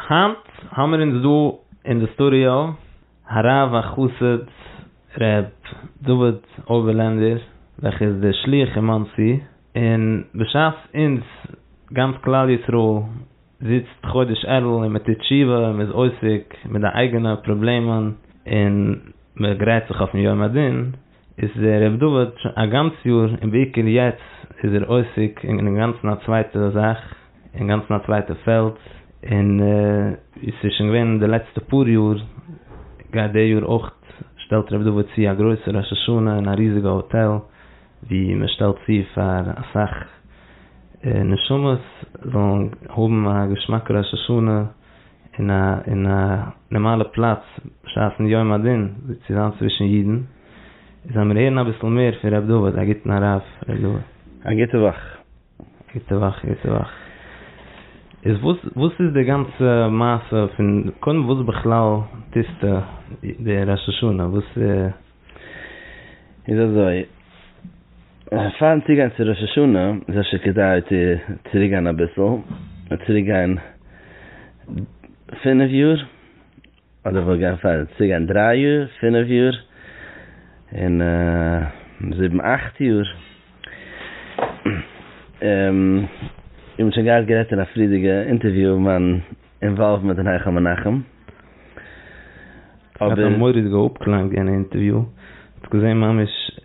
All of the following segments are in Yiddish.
היינט האמיר אונז דא אין די סטודיאו הרב החסיד ר' דוד אויבערלענדער וועלכע איז דער שליח אין מאנסי, און בשעת אונז גאנץ כלל ישראל זיצט חודש אלול און מען טוט תשובה און מען איז עוסק מיט די אייגענע פראבלעמען און מען גרייט זיך אויפן יום הדין, איז דער רבי דוד שוין א גאנץ יאר און בעיקר יעצט איז ער עוסק אין אינגאנצן א צווייטע זאך, אינגאנצן א צווייטע פעלד, און ווי ס'איז שוין געווען די לעצטע פאר יאר גייט די יאר אויך שטעלט רבי דוד צו א גרויסע ראש השנה אין א ריזיגע האטעל ווי מען שטעלט צו פאר אסאך נשמות זאלן האבן א געשמאקע ראש השנה, אין א אין א נארמאלע פלאץ בשעת'ן יום הדין זיצט צו זיין צווישן אידן, זאל מיר הערן אביסל מער פון ר' דוד, א גוטן הרב ר' דוד. א גוטע וואך. א גוטע וואך, א גוטע וואך. איז וואס וואס איז די גאנצע מעשה פון קודם וואס בכלל טוסטו די ראש השנה וואס. איז אזוי, פארן צוגיין צו ראש השנה איז אפשר כדאי צו צוריק גיין אביסל, און צוריק גיין פינף יאר, אדער כ'וועל גיין פאר צוריק גיין דריי יאר, פינף יאר, און זיבן אכט יאר, און מ'האט שוין געהאט גערעדט אין א פריערדיגע אינטערוויו מיין. אינוואלווד מיט דעם היכל מנחם, אבער. ס'האט א מורא'דיגע אפקלאנג אין אינטערוויו, האסט געזען ממש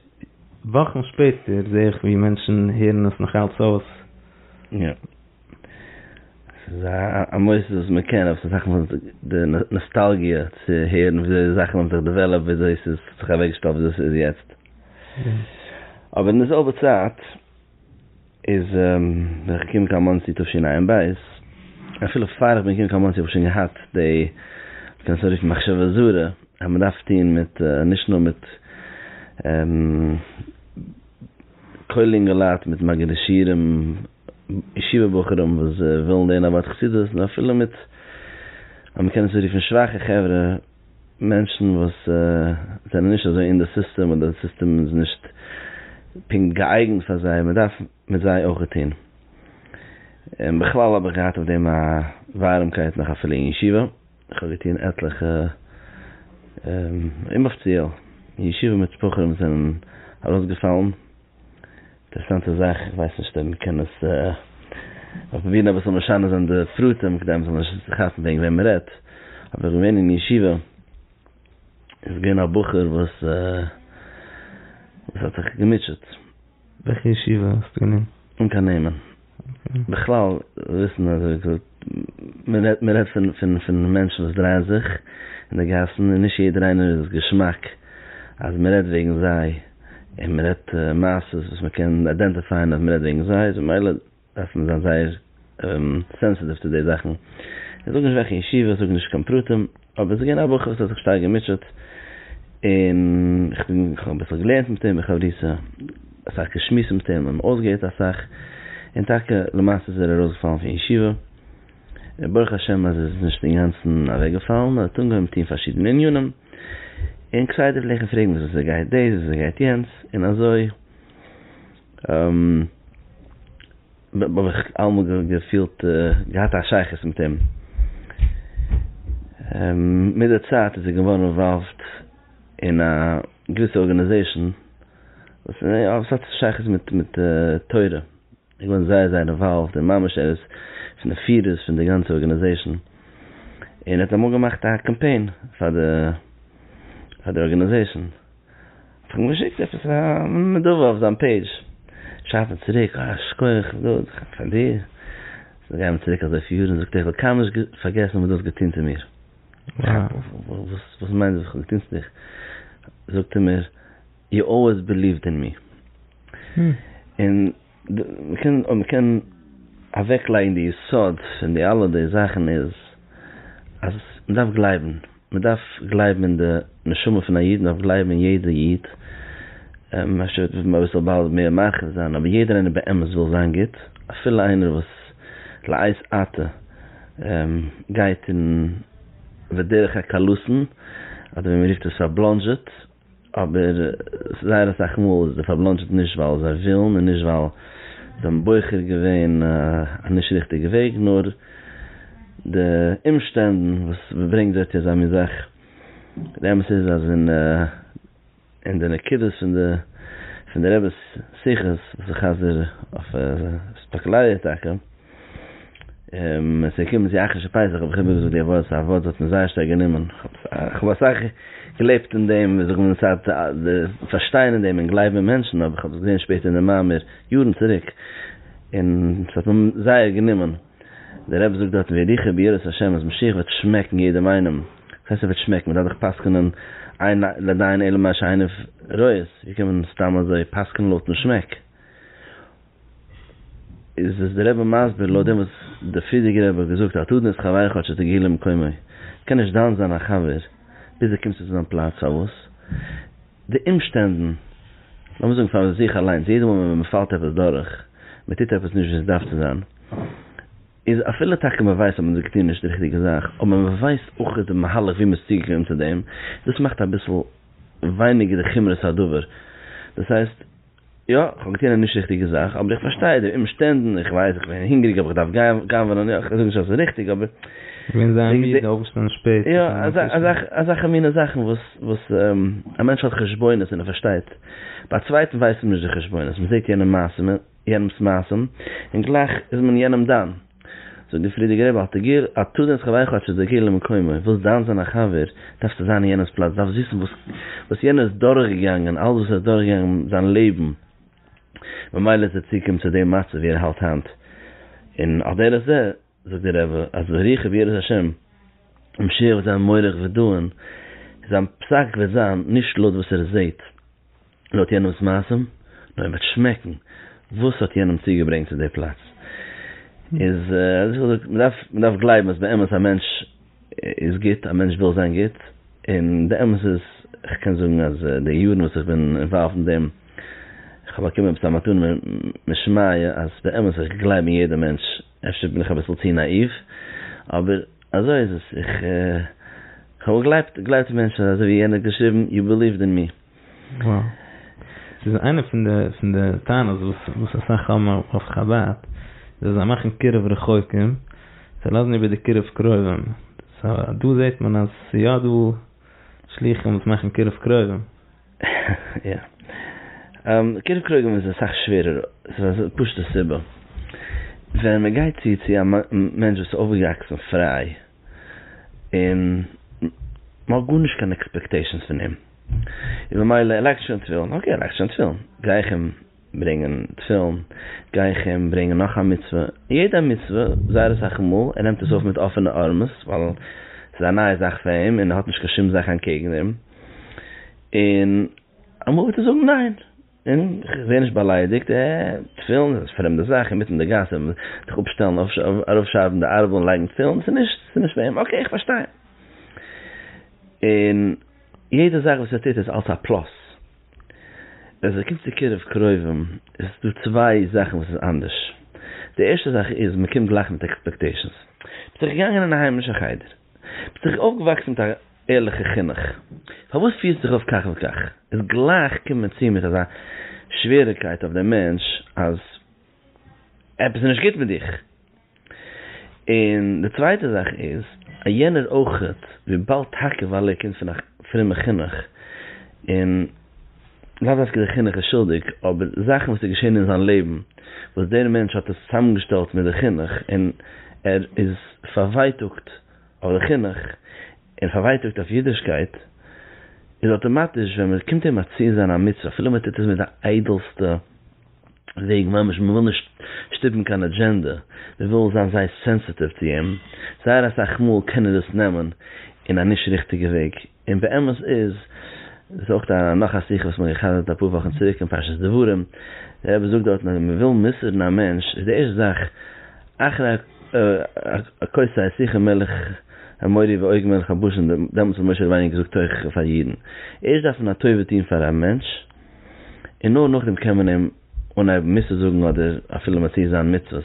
וואכן שפעטער זעה איך ווי מענטשן הערן עס נאכאלץ אויס. יא. ס'איז א מוסד וואס מען קען, אבער ס'איז זאכן פון די נאסטאלגיע צו הערן וויאזוי די זאכן האבן זיך דעוועלאפט, וויאזוי ס'איז זיך אוועקגעשטעלט וויאזוי ס'איז יעצט. אבער אין די זעלבע צייט. איז ווען איך קום קיין מאנסי תשנ א אין בית, אפילו פאר איך בין געקומען קיין מאנסי האב איך שוין געהאט די, מ'קען עס אנרופן מחשבה זרה, אז מ'דארף טון מיט, נישט נאר מיט כולל אינגעלייט, מיט מגידי שיעורים, ישיבה בחורים וואס ווילן לערנען אבד חסידות, נאר אפילו מיט, אז מ'קען עס אנרופן שוואכע חברה, מענטשן וואס זענען נישט אזוי אין די סיסטעם אדער די סיסטעם איז נישט פונקט געאייגענט פאר זיי, מען דארף מיט זיי אויך טון. און בכלל האב איך געהאט אויף דעם א ווארעמקייט נאך אפילו אין ישיבה, איך האב געטון עטליכע אומאפציעל ישיבה מיט בחורים וואס זענען ארויסגעפאלן, אינטערעסאנטע זאך, איך ווייס נישט אויב מען קען עס, כ'וועל פרובירן אביסל משנה זיין די פרטים כדי מען זאל נישט כאפן וועגן וועם מען רעדט, אבער איך בין געווען אין ישיבה, איז געווען א בחור וואס האט זיך געמוטשעט. וועלכע ישיבה האסטו געווען? אן קיין נעמען. בכלל וויסן אז מען רעדט מען רעדט פון פון פון מענטשן וואס דרייען זיך אין די גאסן און נישט יעדער איינער איז געשמאק אז מען רעדט וועגן זיי און מען רעדט מעשות וואס מען קען איידענטיפייען אז מען רעדט וועגן זיי איז ממילא דארף מען זיין זייער סענסעטיוו צו די זאכן איך זאג נישט וועלכע ישיבה זאג נישט קיין פרטים. אבער עס איז געווען א בחור וואס האט זיך שטארק געמוטשעט, און איך בין, איך האב אביסל געלערנט מיט אים בחברותה, אסאך געשמועסט מיט אים, און אויסגעהערט אסאך, און טאקע למעשה איז ער ארויסגעפאלן פון ישיבה, און ברוך השם אז עס איז נישט אינגאנצן אוועקגעפאלן, ער האט אנגעהויבן טון פארשידענע ענינים, און כסדר פלעגט איך אים פרעגן וואס עס גייט דאס, וואס עס גייט יענץ, און אזוי. האב איך אלעמאל געפילט געהאט א שייכות מיט אים. מיט די צייט איז ער געווארן אינוואלווד אין א געוויסע ארגאניזעישאן וואס האט שייכות מיט תורה, ער איז געווארן זייער זייער אינוואלווד און ממש ער איז פון די פירערס פון די גאנצע ארגאניזעישאן, און ער האט אמאל געמאכט א קאמפיין פאר די ארגאניזעישאן. האט ער אים געשיקט עפעס א נדבה אויף זיין פעידזש, שרייבט ער צוריק אה שכוח גאט פאר דיר, זיי גייען צוריק אזויפיל יארן, זאגט ער איך וועל קיינמאל נישט פארגעסן וואס דו האסט געטון צו מיר, וואס מיינט וואס איך האב געטון צו דיך, זאגט ער מיר יו אלוועיס בעליווט אין מי, און. אויב מ'קען אוועקלייגן די יסוד פון די אלע די זאכן איז אז מ'דארף גלייבן, מ'דארף גלייבן אין די נשמה פון א איד, מ'דארף גלייבן אין יעדע איד, אפשר וועט עס אביסל באלד מער מרחיב זיין, אבער יעדער איינער באמת וויל זיין גוט, אפילו איינער וואס לעת עתה גייט אין בדרך הקלות'ן, אדער ווי מ'רופט עס פארבלאנדזשעט. אבער זייער אסאך מאל איז דער פארבלאנדזשעט נישט ווייל זיי ווילן און נישט ווייל זיי האבן בוחר געווען א נישט ריכטיגע וועג נאר די אומשטענדן וואס ברענגט זיי צו אזא מין זאך. די אמת איז אז אין אין די נקודות פון די פון די רב'ס שיחות וואס איך חזר אויף ספאקלייע טאקע, עס איז געקומען צו אכישע פסח האב איך איבער געזאגט די ווארט, ס'איז א ווארט וואס האט מיר זייער שטארק גענומען, כ'האב אסאך געלעבט אין דעם, ווי זאגט מען, ס'האט די פארשטיין אין דעם און גלייבן אין מענטשן, אבער כ'האב עס געזען שפעטער אין די מאמר יארן צוריק, און ס'האט מיר זייער גענומען, דער רבי זאגט דארטן ווי ריחו ביראת השם אז משיח וועט שמעקן יעדעם איינעם, וואס הייסט ער וועט שמעקן? מ'דארף דאך פסק'נען עיין לעדיין אלא מה שעיניו רואות, ווי קען מען סתם אזוי פסק'נען לויטן שמעק? איז עס דער רבי מסביר לויט דעם וואס דער פריערדיגער רבי האט געזאגט אל תדון את חבריך עד שתגיע למקומו, קען נישט דן זיין א חבר ביז דו קומסט צו זיין פלאץ, פארוואס? די אומשטענדן, לאמיר זאגן פאר זיך אליינס, יעדע מאל ווען מען פאלט עפעס דורך, מען טוט עפעס נישט ווי עס דארף צו זיין, איז אפילו טאקע מען ווייסט אז מען האט געטון נישט די ריכטיגע זאך, אבער מען ווייסט אויך די מהלך ווי מען איז צוגעקומען צו דעם, דאס מאכט אביסל ווייניגער די חומרת הדבר, דאס הייסט, יא, כ'האב געטון א נישט ריכטיגע זאך, אבער איך פארשטיי די אומשטענדן, איך ווייס, איך בין הונגעריג אבער איך דארף גנב'ענען, יא, איך זאג נישט אז ס'איז ריכטיג, אבער. געווען זייער מיד און אויפגעשטאנען שפעט. יא, אזעלכע מינע זאכן וואס א מענטש האט חשבונות און ער פארשטייט, ביי א צווייטן ווייסט מען נישט די חשבונות, מ'זעט יענעם מעשים, יענעמ'ס מעשים, און גלייך איז מען יענעם דן. זאגט דער פרידיגער רבי, האט ער גער, א טו דען ס'כדאי כאטש אז דער גר למקומו, ווילסט דיין זיין א חבר, דארפסטו זיין אין יענעמ'ס פלאץ, דארפסט וויסן וואס וואס יענער איז דורך געגאנגען, אלעס וואס ער האט דורך געגאנגען זיין לעבן, ממילא איז ער צוגעקומען צו דעם מצב ווי ער האלט היינט, און על דרך זה, זאגט דער רבי, אז די ריח אויף יראת השם, און משיח וועט זיין מוריך ודן, זיין פסק וועט זיין, נישט לויט וואס ער זעהט, לויט יענעמ'ס מעשים, נאר איר וועט שמעקן וואס האט יענעם צוגעברענגט צו די פלאץ. איז אזויפיל זאגט, מען דארף מען דארף גלייבן אז באמת א מענטש איז גוט, א מענטש וויל זיין גוט, און די אמת איז, איך קען זאגן אז די יארן וואס איך בין אינוואלווד אין דעם, איך האב באקומען עפעס א מתנה משמיא אז באמת איך גלייב אין יעדע מענטש, אפשר בין איך אביסל צו נאאיוו, אבער אזוי איז עס, איך האב געגלייבט געגלייבט אין מענטשן, אזוי ווי יענער האט געשריבן, יו ביליוויד אין מי. וואו. ס'איז איינע פון די פון די טענות וואס וואס אסאך האבן אויף חבד, איז אז זיי מאכן קירוב רחוקים, זיי לאזן איבער די קירוב קרובים. סא דא זעט מען אז ס'איז יא דא שלוחים וואס מאכן קירוב קרובים. יא. קירוב קרובים איז אסאך שווערער. ס'איז א פשוט'ע סיבה. ווען מ'גייט צו צו א מענטש וואס איז אויפגעוואקסן פריי. און מ'האט גארנישט קיין עקספעקטעישאנס פון אים, און ממילא ער לייגט שוין תפילין, אקעי ער לייגט שוין תפילין, גיי איך אים ברענגען תפילין, גיי איך אים ברענגען נאך א מצוה, יעדע מצוה, זייער אסאך מאל, ער נעמט עס אויף מיט אפענע ארעמעס, ווייל ס'איז א נייע זאך פאר אים, און ער האט נישט קיין שום זאך אנקעגן אים, און אמאל וועט ער זאגן ניין. און כ'ווער נישט באליידיגט, עה, תפילין איז פרעמדע זאך אינמיטן די גאס און זיך אפשטעלן, אראפשארבן די ארבל און לייגן תפילין, ס'איז נישט, ס'איז נישט פאר אים, אקעי, כ'פארשטיי. און יעדע זאך וואס ער טוט איז אלס א פלאס. ווען ס'קומט צו קירוב קרובים איז דא צוויי זאכן וואס איז אנדערש. די ערשטע זאך איז מ'קומט גלייך מיט עקספעקטעישאנס. מ'איז זיך געגאנגען אין א היימישע חדר. ביסט דאך אויפגעוואקסן מיט א ערליכע חינוך, פארוואס פירסטו דיך אויף כך וכך? איז גלייך קומען צו מיט אזא שוועריקייט אויף דעם מענטש אז עפעס איז נישט גוט מיט דיך. און די צווייטע זאך איז אז יענער אויכעט וויבאלד טאקע ווייל ער קומט פון א פרומע חינוך און. לאו דווקא דער חינוך איז שולדיג, אבער זאכן וואס איז געשען אין זיין לעבן, וואס דער מענטש האט עס צוזאמגעשטעלט מיט די חינוך, און ער איז פארווייטאגט אויף די חינוך, און פארווייטאגט אויף אידישקייט, איז אויטאמאטיש ווען מען קומט אים מתיר זיין א מצוה, אפילו מען טוט עס מיט די איידעלסטע וועג ממש, מען וויל נישט שטופן קיין אדזשענדע, מען וויל זיין זייער סענסעטיוו צו אים, זייער אסאך מאל קען ער דאס נעמען אין א נישט ריכטיגע וועג. און באמת איז דאס אויך א נאך א שיחה וואס מיר האבן גע'חזר'ט אפאר וואכן צוריק אין פרשת דברים, דער רבי זאגט דארטן אז מען וויל מסר'ן א מענטש איז די ערשטע זאך אחרי הכוסה השיחה מלך המורי ועוגן מלך הבשן דעמאלטס האט משה רבינו געזאגט תוכחה פאר אידן, ערשט דארף מען א טובה טון פאר א מענטש און נאר נאכדעם קען מען אים אנהייבן מוסר זאגן אדער אפילו מתיר זיין מצוות,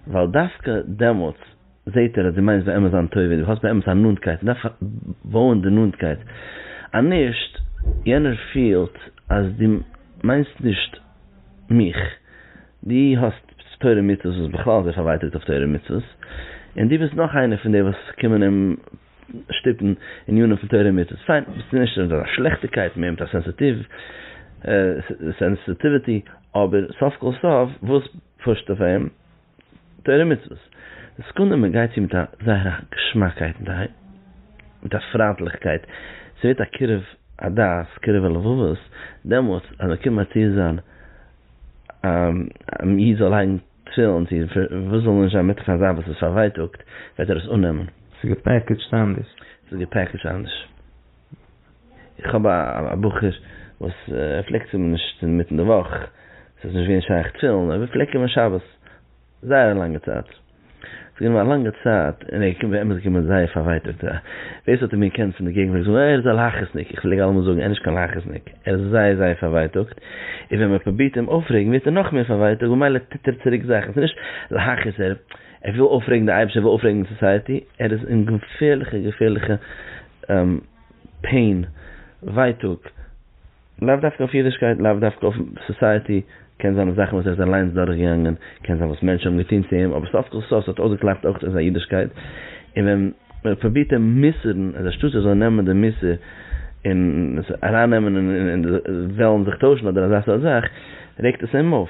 ווייל דווקא דעמאלטס. זעהט ער אז דו מיינסט באמת זיין טובה, דו האסט באמת א נאנטקייט, מען דארף בויען די נאנטקייט, אז נישט, יענער פילט אז דו מיינסט נישט מיך, דו האסט תורה ומצוות, וואס בכלל איז ער פארווייטאגט אויף תורה ומצוות, און דו ביסט נאך איינער פון די וואס קומען אים שטופן ענינים פון תורה ומצוות, פיין, ביסט דו נישט אזא שלעכטיגקייט, מער מיט א סענסיטיוו, סענסיטיוויטי, אבער סוף כל סוף וואס פושט אויף אים? תורה ומצוות, די סעקונדע מען גייט צו מיט א זייער א געשמאקייט און די מיט א פריינטליכקייט, ס'ווערט א קירוב הדעת קירוב הלבבות, דעמאלטס אז מען קומט מתיר זיין א איד זאל לייגן תפילין צו וואס זאל נישט זיין מיט פאר זיין וואס איז פארווייטאגט וועט ער עס אננעמען. ס'איז געפעקעדזשט אנדערש. ס'איז געפעקעדזשט אנדערש. איך האב א בחור וואס ער פלעגט צו מיר נישט אינמיטן די וואך, עס איז נישט געווען שייך תפילין, ער פלעגט קומען שבת זייער א לאנגע צייט, עס איז געווען א לאנגע צייט און ער איז באמת געקומען זייער פארווייטאגט, ווער עס האט אים געקענט פון די געגנט פלעגט זאגן ער איז א להכעיס'ניק, איך פלעג אלעמאל זאגן ער איז נישט קיין להכעיס'ניק, ער איז זייער זייער פארווייטאגט, און ווען מען פרובירט אים אויפרעגן ווערט ער נאכמער פארווייטאגט ממילא טוט ער צוריק זאכן, עס איז נישט להכעיס ער. ער וויל אויפרעגן די אייבישטער ער וויל אויפרעגן די סאסייעטי, ער איז אין געפערליכע געפערליכע פעין, ווייטאג, לאו דווקא אויף אידישקייט, לאו דווקא אויף סאסייעטי, קען זיין אויף זאכן וואס ער איז אליינס דורכגעגאנגען, קען זיין וואס מענטשן האבן געטון צו אים, אבער סוף כל סוף ס'האט אויסגעקלאפט אויך אין זיין אידישקייט, און ווען מען פרובירט אים מוסר'ן אז אנשטאט ער זאל נעמען די מוסר און עס ארייננעמען און וועלן זיך טוישן אדער אזא סארט זאך, רעגט עס אים אויף.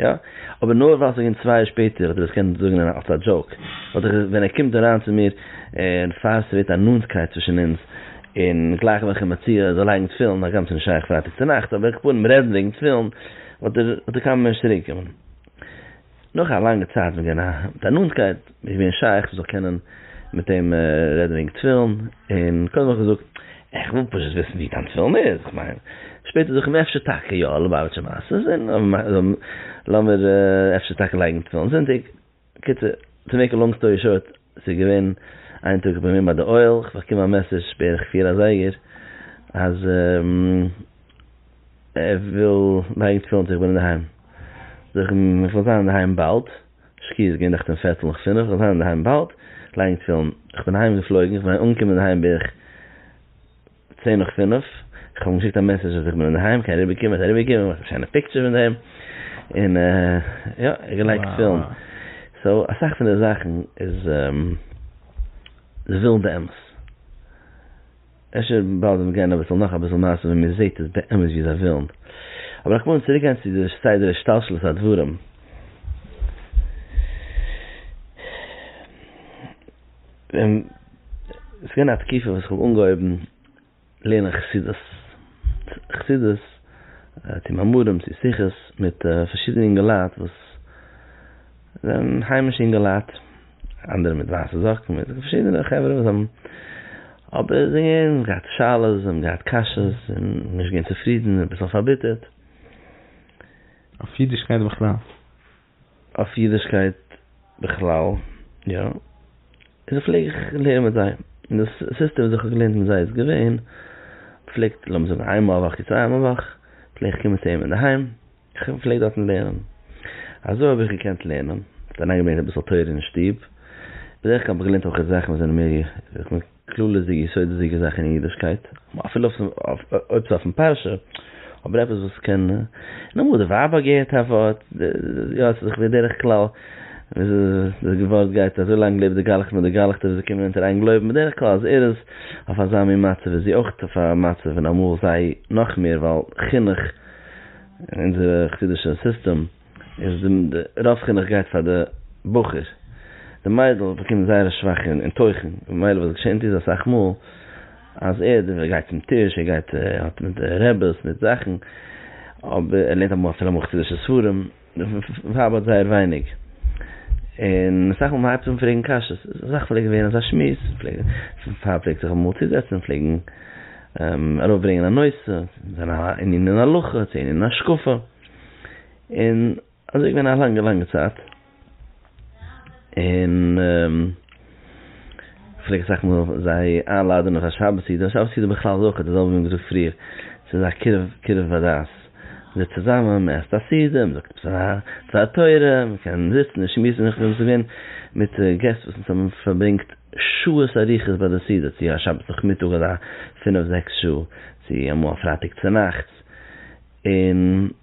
יא, אבער נאר ווייל ס'איז געווען צוויי יאר שפעטער האט ער עס געקענט זאגן אלס א דזשאוק, וואלט איך ווען ער קומט אריין צו מיר און פאר ס'ווערט א נאנטקייט צווישן אונז און גלייך ווען כ'האב מציע זאל לייגן תפילין הגם ס'איז נישט שייך פרייטאג צונאכטס אבער כ'בעט אים רעדן וועגן תפילין וואלט ער וואלט ער קיינמאל נישט צוריקגעקומען נאך א לאנגע צייט וועגן א מיט א נאנטקייט. מיר איז געווען שייך איך זאל קענען מיט אים רעדן וועגן תפילין, און קודם האב איך געזאגט, איך וויל פשוט וויסן ווי דיין תפילין איז, איך מיין. שפעטער זאגט ער מיר אפשר טאקע יא, לובאוויטשער מעשה'ס, און לאמיר אפשר טאקע לייגן תפילין זונטאג. קיצור, טו מעיק א לאנג סטארי שארט, ס'איז געווען איין טאג איך בין געווען ביי די אוהל, איך באקום א מעסעדזש בערך פיר אזייגער אז ער וויל לייגן תפילין צו איך בין אינדערהיים. זאג איך אים איך וועל זיין אינדערהיים באלד. שקיעה איז געווען נאכט אום פערטל נאך פינף, כ'וועל זיין אינדערהיים באלד, לייגן תפילין, כ'בין אהיים געפלויגן, איך מיין אנגעקומען אינדערהיים בערך צען נאך פינף, כ'האב אים געשיקט א מעסעדזש אז איך בין אינדערהיים, קען אריבער קומען, ער האט אריבער געקומען, געמאכט א שיינע פיקטשער פון דעם, און יא, ער האט געלייגט תפילין, סאו אסאך פון די זאכן איז ווילדע אמת. אפשר באלד וועט גיין אביסל נאך אביסל מעשה ווען מען זעהט עס באמת ווי זיי ווילן. אבער איך מוז צוריק גיין צו די סדר השתלשלות הדברים. ווען ס'איז געווען א תקופה וואס איך האב אנגעהויבן לערנען חסידות, חסידות צו מאמרים צו שיחות מיט פארשידענע אינגעלייט וואס זענען היימישע אינגעלייט, אנדערע מיט ווייסע זאקן מיט פארשידענע חברה וואס האבן אבער זיי האבן געהאט שאלות זיי האבן געהאט קשיות און נישט געווען צופרידן און אביסל פארביטערט. אויף אידישקייט בכלל? אויף אידישקייט בכלל יא און פלעג איך לערנען מיט זיי און די סיסטעם וואס איך האב געלערנט מיט זיי איז געווען פלעגט לאמיר זאגן איינמאל א וואך צוויי מאל א וואך פלעג איך קומען צו אים אינדערהיים, איך פלעג דארטן לערנען. אזוי האב איך געקענט לערנען. ס'דערנאך געווען אביסל תורה אין שטוב. בדרך כלל האב איך געלערנט אויך זאכן וואס זענען מער איך מיין כללית'דיגע יסודות'דיגע זאכן אין אידישקייט, אפילו אויב ס'איז אויפן פרשה, אבער עפעס וואס קען, און אמאל האט די ווייב בה געהערט א ווארט, יא עס איז זיך בדרך כלל וואס די ווארט גייט אזוי לאנג לעבט די גלח'ט מיט די גלח'טע וואס זיי קומען אונטער איין גלויבן בדרך כלל אז ער איז אויף אזא מין מצב איז זי אויך אויף א מצב און אמאל זיי נאך מער ווייל חינוך אין אונזער חסידישע סיסטעם איז די רוב חינוך גייט פאר די בחור, די מיידל באקומט זייער א שוואכע אין תוכן, ממילא וואס געשענט איז אסאך מאל אז ער גייט צום טיש, ער גייט האט מיט די רעבעס מיט זאכן, אבער ער לערנט אפילו אמאל חסידישע ספרים. די ווייב האט זייער ווייניג, און אסאך מאל מען הייבט אן פרעגן קשיות, אסאך פלעגט ווערן אזא שמועס, פאר פלעגט זיך אמאל צוזעצן, פלעגן ארויף ברענגען א נושא, זיין א ענין אין הלכה, צו ענין אין השקפה, און אזוי איז געווען א לאנגע לאנגע צייט, און. פלעג אסאך מאל זיי איינלאדענען פאר שבת סעודה, שבת סעודה בכלל איז אויך די זעלבע ווי מען האט געזאגט פריער, ס'איז א קירוב קירוב הדת, מען זיצט צוזאמען, מען עסט א סעודה, מען זאגט עפעס א דבר תורה, מען קען זיצן און שמועסן, איך בין געווען מיט געסט וואס אונז האבן פארברענגט שעות אריכות ביי די סעודה, צו א שבת נאכמיטאג אזא פינף זעקס שעה, צו אמאל א פרייטאג צונאכטס, און.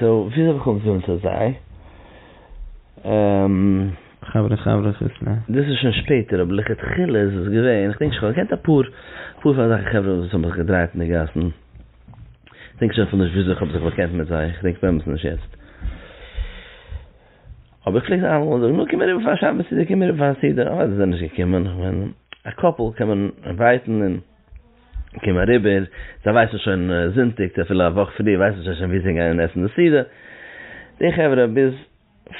סאו וויאזוי האב איך אנגעקומען צו זיי? און. חברה חברה כוס ל. דאס איז שוין שפעטער, אבער לכתחילה איז עס געווען, כ'דענק שוין, כ'האב געקענט אפאר אפאר פון אזעלכע חברה וואס האבן זיך געדרייט אין די גאסן, כ'דענק שוין אפילו נישט וויאזוי כ'האב זיך באקענט מיט זיי, כ'דענק באמת נישט יעצט. אבער כ'פלעג זיי אלעמאל זאגן, נו קום אריבער פאר א שבת סעודה, קום אריבער פאר א סעודה, אוודאי זענען זיי נישט געקומען, כ'מיין א קאפל קען מען אינווייטן און. קום אריבער, זיי ווייסן שוין זונטאג צו אפילו א וואך פריער ווייסן זיי שוין וואו זיי גייען עסן די סעודה, די חברה ביז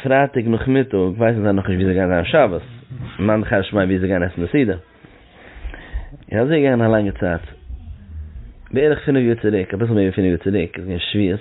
פרייטאג נאכמיטאג ווייסן זיי נאכנישט וואו זיי גייען זיין שבת, מאן דכר שמיה וואו זיי גייען עסן די סעודה, און אזוי איז געגאנגען א לאנגע צייט, בערך פינף יאר צוריק, אביסל מער ווי פינף יאר צוריק איז געווען שביעות.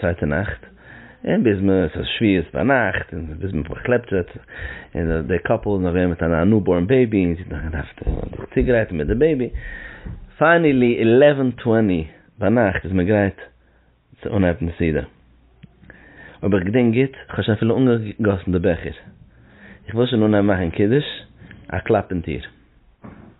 צווייטע נאכט, און ביז מען עס איז שביעית ביינאכט, און ביז מען פארקלעפט זיך, און די קאפל איז נאך געווען מיט אן ניובארן בעיבי, און זי האט נאך געדארפט זיך צוגרייטן מיט די בעיבי, פיינעלי עלעווען טוועני ביינאכט איז מען גרייט צו אנהייבן די סעודה, אויב איך געדענק גוט, איך האב שוין אפילו אנגעגאסן די בעכער, איך וויל שוין אנהייבן מאכן קידוש, א קלאפ אין טיר.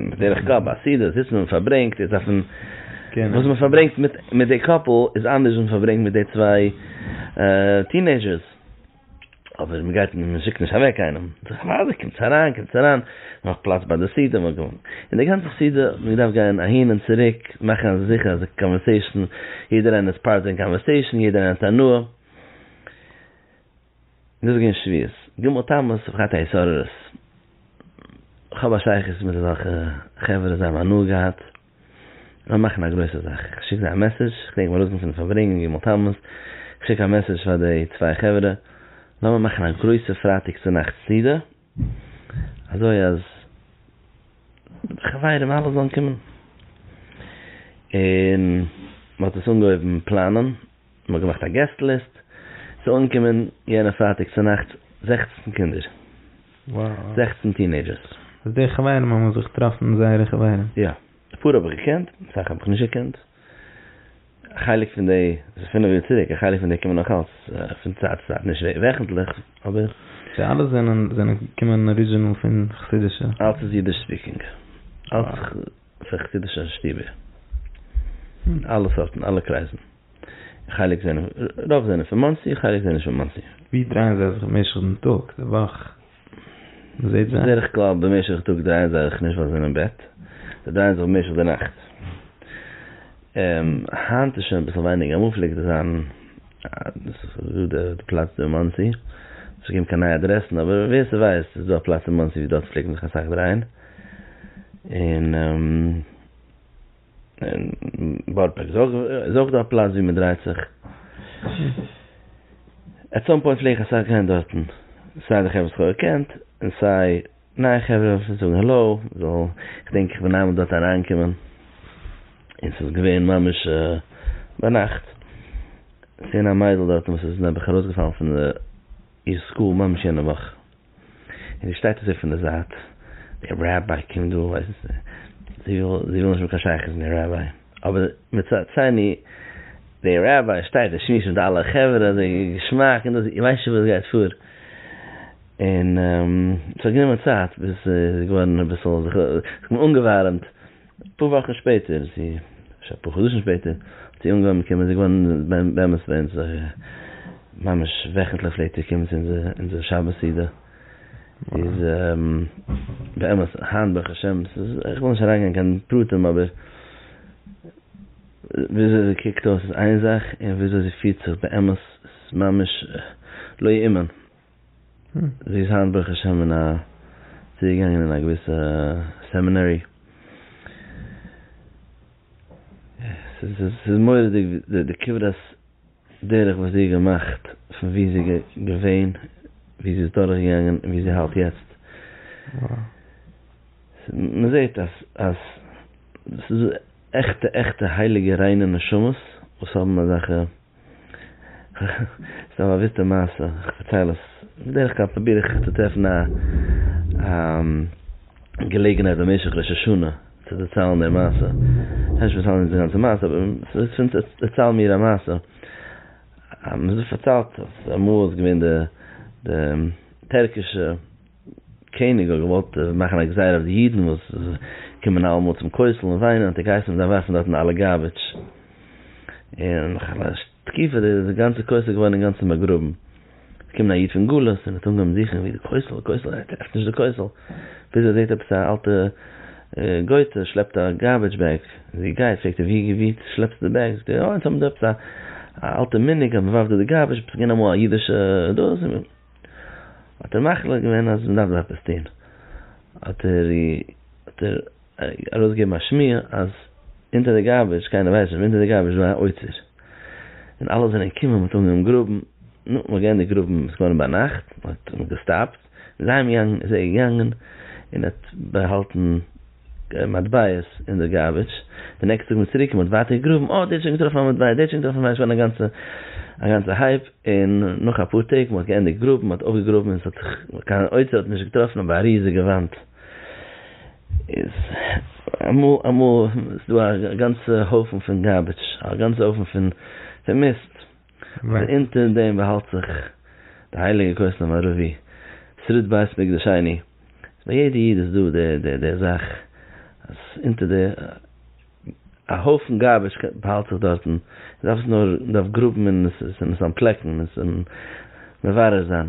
בדרך כלל ביי א סעודה זיצט מען און פארברענגט איז אויפן וואס מען פארברענגט מיט מיט די קאפל איז אנדערש ווי מען פארברענגט מיט די צוויי טינעיזשערס אבער מען גייט מען שיקט נישט אוועק קיינעם זיך אוודאי קומטס אריין קומטס אריין נאך פלאץ ביי די סעודה און די גאנצע סעודה האט מען געדארפט גיין אהין און צוריק מאכן אז זיכער אז די קאנווערסעישאן יעדער איינער איז פארט אין קאנווערסעישאן יעדער איינער האט הנאה. דאס איז געווען שביעות ג' תמוז תרפ ח א התעוררות, כ'האב א שייכות מיט אזעלכע חברה זיי האבן הנאה געהאט, זיי מאכן א גרויסע זאך, כ'שיק זיי א מעסעדזש, כ'דענק מיר ארויסקומען פון די פארברענג אום ג' תמוז, כ'שיק א מעסעדזש פאר די צוויי חברה, לאמיר מאכן א גרויסע פרייטאג צו נאכט סעודה, אזוי אז די חברים אלע זאלן קומען, און מען האט עס אנגעהויבן פלאנען, מען האט געמאכט א געסט ליסט, ס'איז אנגעקומען יענע פרייטאג צונאכטס זעכצן קינדער, זעכצן טינעידזשערס. אז די חברים האבן זיך געטראפן זייערע חברים. יא, אפאר האב איך געקענט, אסאך האב איך נישט געקענט. א חלק פון די, עס איז פינף יאר צוריק, א חלק פון די קומען נאך אלץ פון צייט צו צייט, נישט וועכנטליך, אבער. סאו אלע זענען זענען געקומען אריזשינעל פון חסידישע? אלץ איז אידיש ספיקינג, אלץ פון חסידישע שטובער, פון אלע סארטן, אלע קרייזן, חלק זענען, רוב זענען פון מאנסי, חלק זענען נישט פון מאנסי. ווי דרייען זיי זיך במשך דעם טאג, די וואך? מ'זעט זיי. בדרך כלל במשך טאג דרייען זיי זיך נישט ביי זון און בעט, זיי דרייען זיך במשך די נאכט. היינט איז שוין אביסל ווייניגער, אמאל פלעגט דאס זיין, דאס איז גראדע די פלאץ דא אין מאנסי, האט נישט געגעבן קיין נייע אדרעסן, אבער ווער ס'ווייסט איז דא א פלאץ אין מאנסי ווי דארט פלעגט מען זיך אסאך דרייען, און. אין בארא פארק איז אויך דא א פלאץ ווי מען דרייט זיך. עט סאם פוינט פלעג איך אסאך גיין דארטן, סיי די חברה וואס כ'האב געקענט, און סיי נייע חברה צו זאגן העלאו, כ'דענק איך בין איינמאל דארט אריינגעקומען און ס'איז געווען ממש ביינאכט, ס'איז געווען א מיידל דארטן וואס איז נעבעך ארויסגעפאלן פון איר סקול ממש יענע וואך. און זי שטייט אזוי פון די זייט, דער ראביי קומט דא, ווייסט זי וויל נישט האבן קיין שייכות מיט דעם ראביי, אבער מצד שני דער ראביי שטייט און שמועסט מיט אלע חברה אזוי געשמאק און דאס, איר ווייסט שוין וואס גייט פאר, און ס'האט גענומען צייט ביז זי איז געווארן אביסל, זיך אנגעווארעמט. אפאר וואכן שפעטער צו אפשר אפאר חדשים שפעטער האט זי אנגעהויבן קומען, זי איז געווארן באמת ביי אונז א, ממש וועכנטליך פלעגט זי קומען צו אונזער שבת סעודה, זי איז באמת היינט ברוך השם, איך וויל נישט אריינגיין אין קיין פרטים אבער וויאזוי זי קוקט אויס איז איין זאך און וויאזוי זי פירט זיך באמת איז ממש לא יאומן. זי איז היינט ברוך השם אין א צוגעגאנגען אין א געוויסע סעמינערי, ס'איז מורא'דיג די כברת דרך וואס זי האט געמאכט פון וואו זי איז געווען, וואו זי איז דורכגעגאנגען און וואו זי האלט יעצט, מ'זעט אז אז ס'איז עכטע עכטע הייליגע ריינע נשמות וואס האבן אזעלכע. סתם א וויסטע מעשה, איך פארצייל עס, בדרך כלל פרוביר איך צו טרעפן א געלעגנהייט במשך ראש השנה צו דערציילן די מעשה, איך העב נישט פארציילן די גאנצע מעשה אבער דערצייל מיר א מעשה, מען האט פארציילט אז אמאל איז געווען די טערקישע. קעניג האט געוואלט מאכן א גזירה אויף די אידן וואס קומען אלעמאל צום כותל און וויינען, האט ער געהייסן מ'דארף ווארפן דארטן אלע גארביטש, און נאך א תקופה איז די גאנצע כותל געווארן אינגאנצן באגראבן, איז געקומען א איד פון גלות און האט אנגעהויבן זוכן ווי די כותל, די כותל, ער טרעפט נישט די כותל, ביז ער זעט עפעס א אלטע גויטע שלעפט א גארביטש בעג, איז ער געגייט, פרעגט ער ווי שלעפסטו די בעג, זאגט ער, אוי אונז האבן דא עפעס א אלטע מנהג אז מ'ווארפט דא די גארביטש, עפעס איז געווען אמאל א אידישע דאס. האט ער מחליט געווען אז מ'דארף דא עפעס טון, האט ער ארויסגעגעבן א שמועה אז אונטער די גארביטש, קיינער ווייסט נישט, אבער אונטער די גארביטש איז דא א אוצר, און אלע זענען געקומען, מ'האט אנגעהויבן גראבן, נו, מ'האט געענדיגט גראבן, ס'איז געווארן ביינאכט, מ'האט געסטאפט, און זיי האבן געגאנגען, איז ער געגאנגען און האט באהאלטן. מטבעות אין די גארביטש, די נעקסטע טאג מ'איז צוריק און מ'האט ווייטער געגראבן, אוי דער האט שוין געטראפן א מטבע, דער האט שוין געטראפן ווייסט ווען, א גאנצע הייפ, און נאך אפאר טעג מ'האט געענדיגט גראבן, מ'האט אויפגעגראבן און ס'האט זיך קיין אוצר האט מען נישט געטראפן אבער א ריזיגע וואנט איז אמאל אמאל איז דא א גאנצע הויפן פון גארביטש, א גאנצע הויפן פון מיסט. און אונטער דעם באהאלט זיך די הייליגע כוס המערבי, שריד בית מקדש שני, איז ביי יעדע איד איז דא די די זאך אז אונטער די א הויפן גארביטש באהאלט זיך דארטן, מען דארף עס נאר מען דארף גראבן און עס און עס אנפלעקן און עס מברר זיין.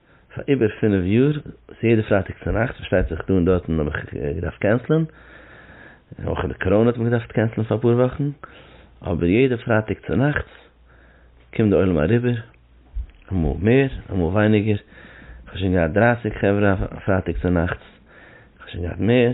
פאר איבער פינף יאר, ס'איז יעדע פרייטאג צונאכטס, פארשטייט זיך דא און דארטן האב איך געדארפט קענסלען, אויך די קאראנע האט מען געדארפט קענסלען פאר אפאר וואכן, אבער יעדע פרייטאג צונאכטס קומט די עולם אריבער, אמאל מער אמאל ווייניגער, כ'האב שוין געהאט דרייסיג חברה א פרייטאג צונאכטס, כ'האב שוין געהאט מער.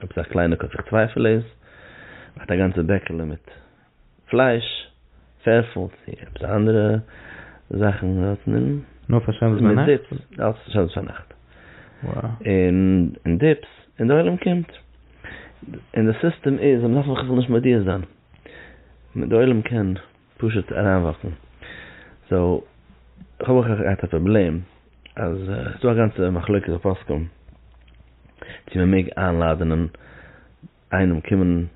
עפעס א קליינע קוץ איך צווייפעל עס האט א גאנצע בעקעלע מיט פלייש פערפעל צי עפעס א אנדערע זאכן דארטן און נאר פאר שבת ביינאכט נאר פאר שבת ביינאכט און דיפס און די עולם קומט און די סיסטעם איז און מ'דארף מיך אפילו נישט מודיע זיין די עולם קען. פשוט אריינוואקן. סאו איך האב אויך געהאט א פראבלעם אז עס איז דא א גאנצע מחלוקת הפוסקים צו מען מעג איינלאדענען איינעם קומען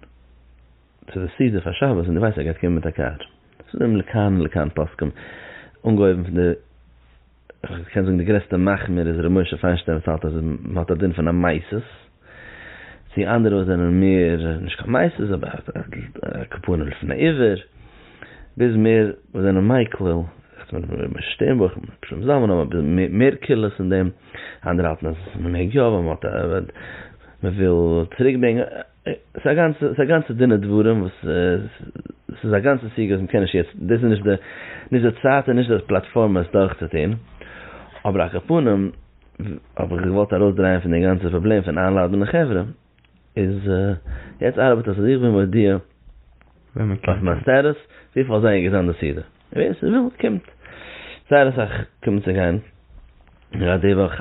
צו די סעודה פאר שבת און דו ווייסט ער גייט קומען מיט א קאר. ס'איז דא לכאן ולכאן פוסקים אנגעהויבן פון די. כ'קען זאגן די גרעסטע מחמיר איז ר' משה פיינשטיין וואס האלט אז מען האט א דין פון א מייסעס, צו אנדערע וואס זענען מער נישט קיין מייסעס אבער כפנים לפני עיוור, ביז מער וואס זענען מייקליל, רעדט מען פון ר' משה שטערנבוך און ר' שלום זלמן האבן אביסל מער קולות אין דעם, אנדערע האלטן אז מען מעג יא ווייל מען וויל צוריק ברענגען. ס'איז א גאנצע, ס'איז א גאנצע דין ודברים וואס ס'איז א גאנצע סוגיא וואס מ'קען נישט יעצט, דאס איז נישט די, נישט די צייט און נישט די פלאטפארמע עס דורכצוטון, אבער ע כ פנים האב איך געוואלט ארויסדרייען פון די גאנצע פראבלעם פון איינלאדענען די חברה, איז יעצט ארבעט עס אז איך בין מודיע אויף מיין סטעטוס וויפיל אזוי איז געזען די סעודה, און ווער ס'וויל קומט, זייער אסאך קומען צו גיין גראד די וואך.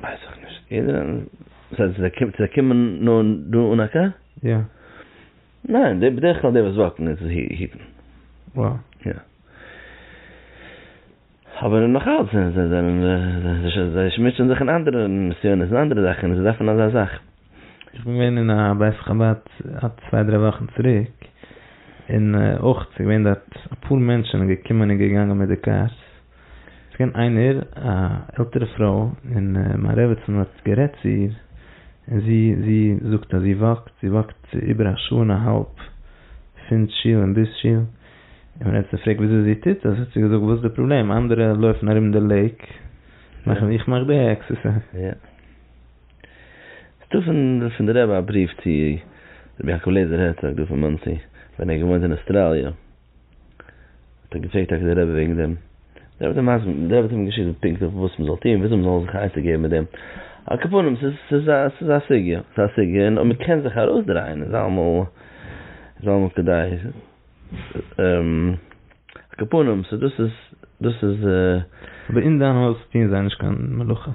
ווייס איך נישט. יעדער זאל זיי קומען צו קומען נאר דא אן א קאר? יא. ניין די בדרך כלל די וואס וואקן איז היטן. וואו? יא. אבער נאך אלץ זיי זענען זיי שמוצען זיך אין אנדערע נסיונות אין אנדערע זאכן און זיי דארפן אזא זאך. איך בין געווען אין א בית חבד א צוויי דריי וואכן צוריק, און אויך ס'איז געווען דארט אפאר מענטשן געקומען און געגאנגען מיט די קארס, ס'איז געווען איינער א עלטערע פרוי און מיין רעבעצן האט גערעדט צו איר, און זי זי זאגט אז זי וואקט, זי וואקט איבער א שעה און א האלב פון שול און ביז שול, און מען האט זי געפרעגט וויאזוי זי טוט עס, האט זי געזאגט וואס איז די פראבלעם, אנדערע לויפן ארום די לעיק, איך מאך די עקסערסייז. ס'דא פון די רבי א בריוו צו רבי יעקב לעזער הערצאג דא פון מאנסי ווען ער האט געוואוינט אין אוסטראליע האט ער געפרעגט טאקע די רבי וועגן דעם דער רבי האט אים געשיקט פונקט אויף וואס מ'זאל טון וויאזוי מ'זאל זיך עצה געבן מיט דעם על כל פנים ס'איז א ס'איז א סוגיא ס'איז א סוגיא און אויב מ'קען זיך ארויסדרייען איז אלעמאל איז אלעמאל כדאי על כל פנים ס'איז דאס איז דאס איז. אבער אין דיין הויז טוען זיי נישט קיין מלאכות?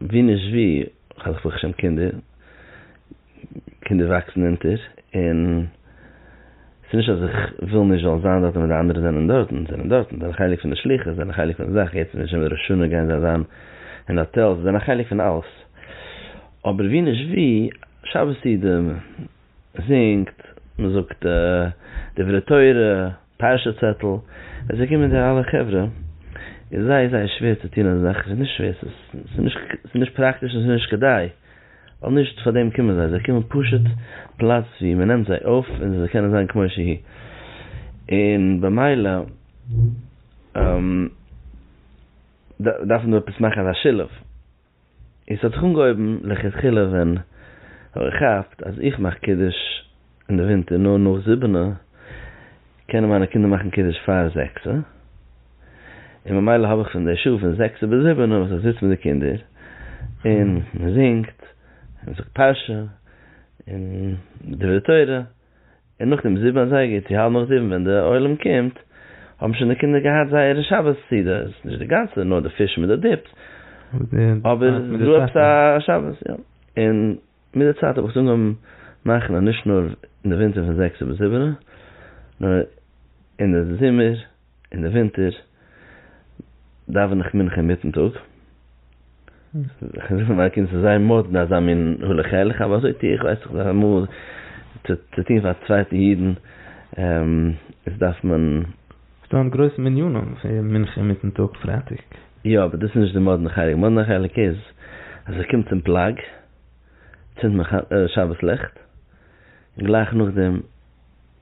ווי נישט ווי, כ'האב ברוך השם קינדער, קינדער וואקסן אונטער, און ס'איז נישט אז איך וויל נישט זאל זיין דארטן ווען די אנדערע זענען דארטן, זיי זענען דארטן, זיי זענען חלק פון די שליחות, זיי זענען חלק פון די זאך, יעצט בשם ראש השנה גייען זיי זיין אין האטעלס, זיי זענען חלק פון אלעס, אבער ווי נישט ווי, שבת איד, מ'זינגט, מ'זאגט דברי תורה. פרשה צעטל, ווען ס'איז געקומען די אלע חברה איז זייער זייער שווער צו טון אזא זאך, ס'איז נישט שווער, ס'איז נישט פראקטיש און ס'איז נישט כדאי, ווייל נישט פאר דעם קומען זיי, זיי קומען פשוט פלאץ ווי מען נעמט זיי אויף און זיי קענען זיין כמו שהיא, און במילא דארף מען דא עפעס מאכן אזא שילוב. און ס'האט זיך אנגעהויבן לכתחילה ווען איך כאפט אז איך מאך קידוש אין די ווינטער נאר נאך זיבענע, קענען מיינע קינדער מאכן קידוש פאר זעקסע, און ממילא האב איך פון די שעה פון זעקסע ביז זיבענע וואס איך זיץ מיט די קינדער און מ'זינגט און מ'זאגט פרשה און דברי תורה. און נאכדעם זיבן אזייגער צו האלב נאך זיבן ווען די עולם קומט האבן שוין די קינדער געהאט זייערע שבת סעודות, נישט די גאנצע נאר די פיש מיט די דיפס, אבער ס'דא עפעס א שבת יא, און מיט די צייט האב איך עס אנגעהויבן מאכן אז נישט נאר אין די ווינטער פון זעקסער ביז זיבענער נאר אין די זומער. אין די ווינטער דאווען איך מנחה אינמיטן טאג, כ'זאג פאר מיינע קינדער ס'איז זייער מאדנע אזא מין הלוך-ילך, אבער אזוי טו איך, ווייס איך זיך אמאל צו טון פאר צווייטע אידן, איז דארף מען. ס'איז דא גרויסע מניינים פון מנחה אינמיטן טאג פרייטאג. יא, אבער דאס איז נישט די מאדנע חלק, די מאדנע חלק איז אז איך קום צום פלג, צינד מיין שבת לעכט, און גלייך נאכדעם.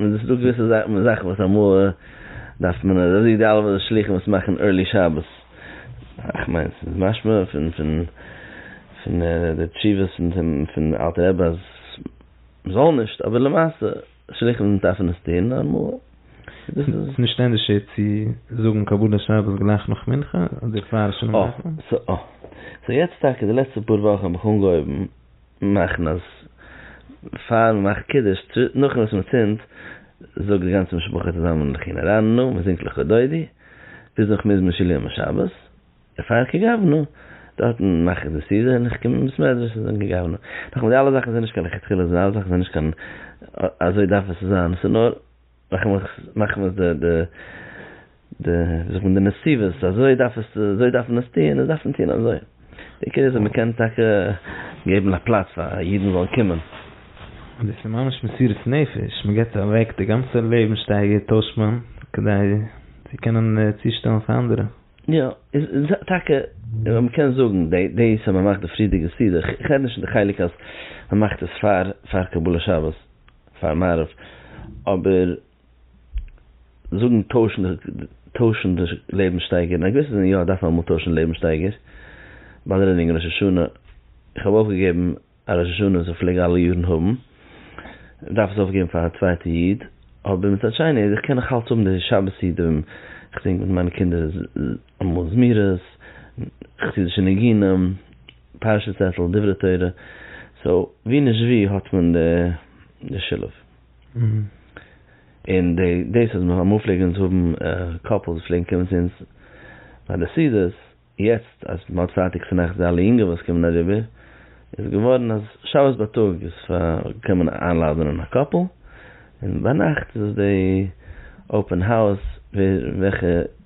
און דאס איז דא געוויסע זאכן וואס אמאל דארף מען און אזוי די אלע שלוחים וואס מאכן ערלי שבת, איך מיין עס איז משמע פון פון פון די תשובות פון אלטע רבי אז מען זאל נישט, אבער למעשה שלוחים דארפן עס טון נארמאל. דאס איז נישט ענדערשער צו זאגן קבלת שבת גלייך נאך מנחה אדער פאר שלום עליכם? אה, סאו יעצט טאקע די לעצטע פאר וואכן האב איך אנגעהויבן מאכן אז פאר מען מאכט קידוש צו נאכן וואס מען צינדט זאגט די גאנצע משפחה צוזאמען לחי נערנו מען זינגט לכה דודי ביז נאך מזמור של יום השבת און פאר כ ג אבנו דארטן מאך איך די סעודה און איך קום אין בית מדרש און זינג כ ג אבנו נאכאמאל די אלע זאכן זענען נישט קיין לכתחילה די אלע זאכן זענען נישט קיין אזוי דארף עס צו זיין ס'איז נאר מאכן מיר די די די ווי זאגט מען די נסיבות אזוי דארף עס אזוי דארף מען עס טוהן און עס דארף מען טוהן אזוי די עיקר איז אז מען קען טאקע געבן א פלאץ פאר אידן זאלן קומען. און דאס איז ממש מסירות נפש מען געבט אוועק די גאנצע לעבן שטייגער טוישט מען כדי צו קענען צושטעלן פאר אנדערע. יא איז טאקע און מען קען זאגן די דאס אז מען מאכט די פריערדיגע סידור איך רעד נישט פון די חלק אז מען מאכט עס פאר פאר קבלת שבת. פאר מערב, אבער זאגן טוישן טוישן די לעבנסשטייגער, אין א געוויסע זין יא דארף מען אמאל טוישן לעבנסשטייגער, באדערענינג ראש השנה, איך האב אויפגעגעבן א ראש השנה וואס איך פלעג אלע יארן האבן, איך דארף עס אויפגעבן פאר א צווייטע איד, אבער מצד שני איז איך קען נאך אלץ האבן די שבת סידורים, איך זינג מיט מיינע קינדער אמאל זמירות, איך טו זיך ניגונים. פרשת צעטל, דברי תורה, סאו ווי נישט ווי האט מען די שילוב. און דאס אז אמאל פלעגן אונז האבן קאפלס וואס פלעגן קומען צו אונז ביי די סעודות, יעצט אז מען האט פארטיג פארנעכטס די אלע יונגע וואס קומען אריבער, איז געווארן אז שבת בייטאג איז פאר קען מען איינלאדענען א קאפל, און ביינאכט איז עס די אופען האוז ווער וועלכע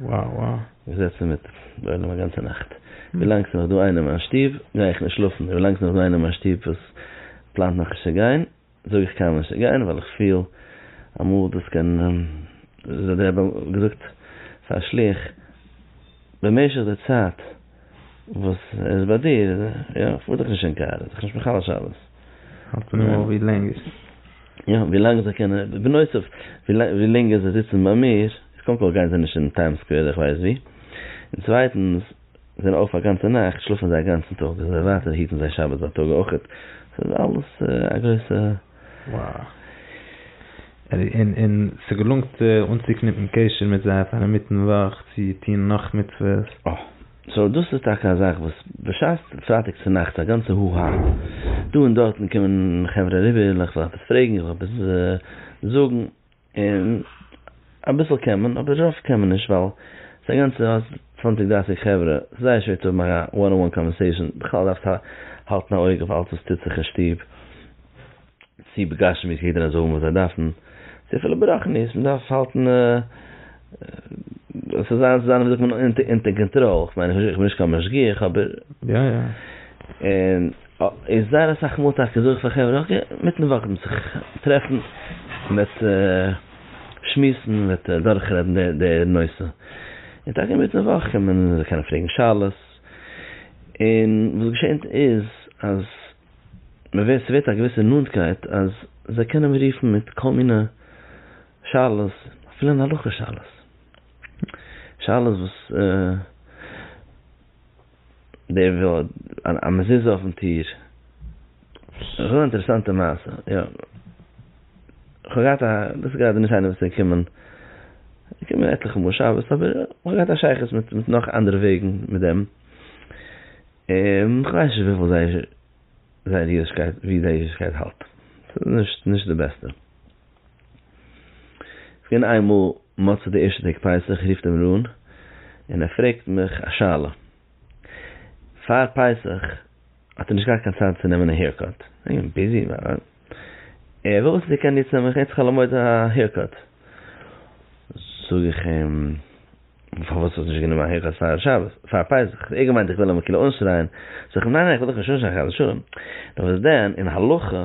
וואו וואו. מ'זעצט זיך מיט די עולם א גאנצע נאכט. ווילאנג ס'איז נאך דא איינער אין מיין שטוב, גיי איך נישט שלאפן. ווילאנג ס'איז נאך דא איינער אין מיין שטוב וואס פלאנט נאך נישט צו גיין, זאג איך קיינמאל נישט צו גיין, ווייל איך פיל אמאל דאס קען, ווי האט דער רבי געזאגט פאר א שלוח, במשך די צייט, וואס איז ביי דיר? יא, איך פאר דאך נישט אין קאר, איז דאך נישט מחלל שבת. האלט און נאר ווי לענג איז. יא, ווי לאנג זיי קענען, בנוסף, ווי לענגער זיי זיצן ביי מיר, קודם כל גייען זיי נישט אין טיים סקווער אדער איך ווייס ווי, און צווייטנס, זיי זענען אויף א גאנצע נאכט, שלאפן זיי א גאנצן טאג, אזוי ווייטער היטן זיי שבת בייטאג אויכעט, ס'איז אלעס א גרויסע. און ס'געלונגט אנצוקניפן קשר מיט זיי פאר אינמיטן וואך צו טון נאך מצוות. אה. סאו דאס איז טאקע א זאך וואס בשעת פרייטאג צו נאכטס א גאנצע הו הא דא און דארטן קומען חברה אריבער, איך זאל עפעס פרעגן, איך זאל עפעס זאגן. און אביסל קען מען אבער רוב קען מען נישט ווייל ס'א גאנצע האסט צוואנציג דרייסיג חברה ס'זייער שווער צו האבן א וואן אן וואן קאנווערסעישאן בכלל דארפסט האלטן א אויג אויף אלץ וואס טוט זיך אין שטוב צו בגשמיות יעדער זאל האבן וואס זיי דארפן צו אפילו ברחניות מ'דארף האלטן ס'זאל זיין ווי זאגט מען אונטער קאנטראל כ'מיין איך בין נישט קיין משגיח אבער. און זייער אסאך מאל טאקע זאג איך פאר חברה אקעי מיטן וואך וועט מען זיך טרעפן, מ'וועט שמועסן, מ'וועט דורכרעדן די נושא, און טאקע מיטן וואך קומען זיי קענען פרעגן שאלות, און וואס געשענט איז אז מ'ווערט ס'ווערט א געוויסע נאנטקייט אז זיי קענען מיר רופן מיט כל מיני שאלות, אפילו אין הלכה שאלות, שאלות וואס. דער וויל א מזוזה אויפן טיר. ס'איז אן אינטערעסאנטע מעשה, יא. כ'האב געהאט א, דאס איז גראדע נישט איינער וואס איז געקומען, געקומען עטליכע מאל שבת, אבער כ'האב געהאט א שייכות מיט מיט נאך אנדערע וועגן מיט דעם. און כ'ווייס נישט וויפיל זייער זייער אידישקייט, ווי זייער אידישקייט האלט. ס'איז נישט נישט די בעסטע. כ'בין איינמאל מצות די ערשטע טעג פסח רופט אים רן און ער פרעגט מיך א שאלה, פאר פסח האט ער נישט געהאט קיין צייט צו נעמען א העירקאט, ער וויל אויס ער קען יעצט נעמען כעת חול המועד א העירקאט, זאג איך אים פארוואס האסטו נישט גענומען א העירקאט פאר שבת פאר פסח, האט ער געמיינט איך וויל אים כאילו אנשרייען, זאג איך אים ניין ניין איך וויל דאך נישט אנשרייען חס ושלום, נאר וואס דען אין הלכה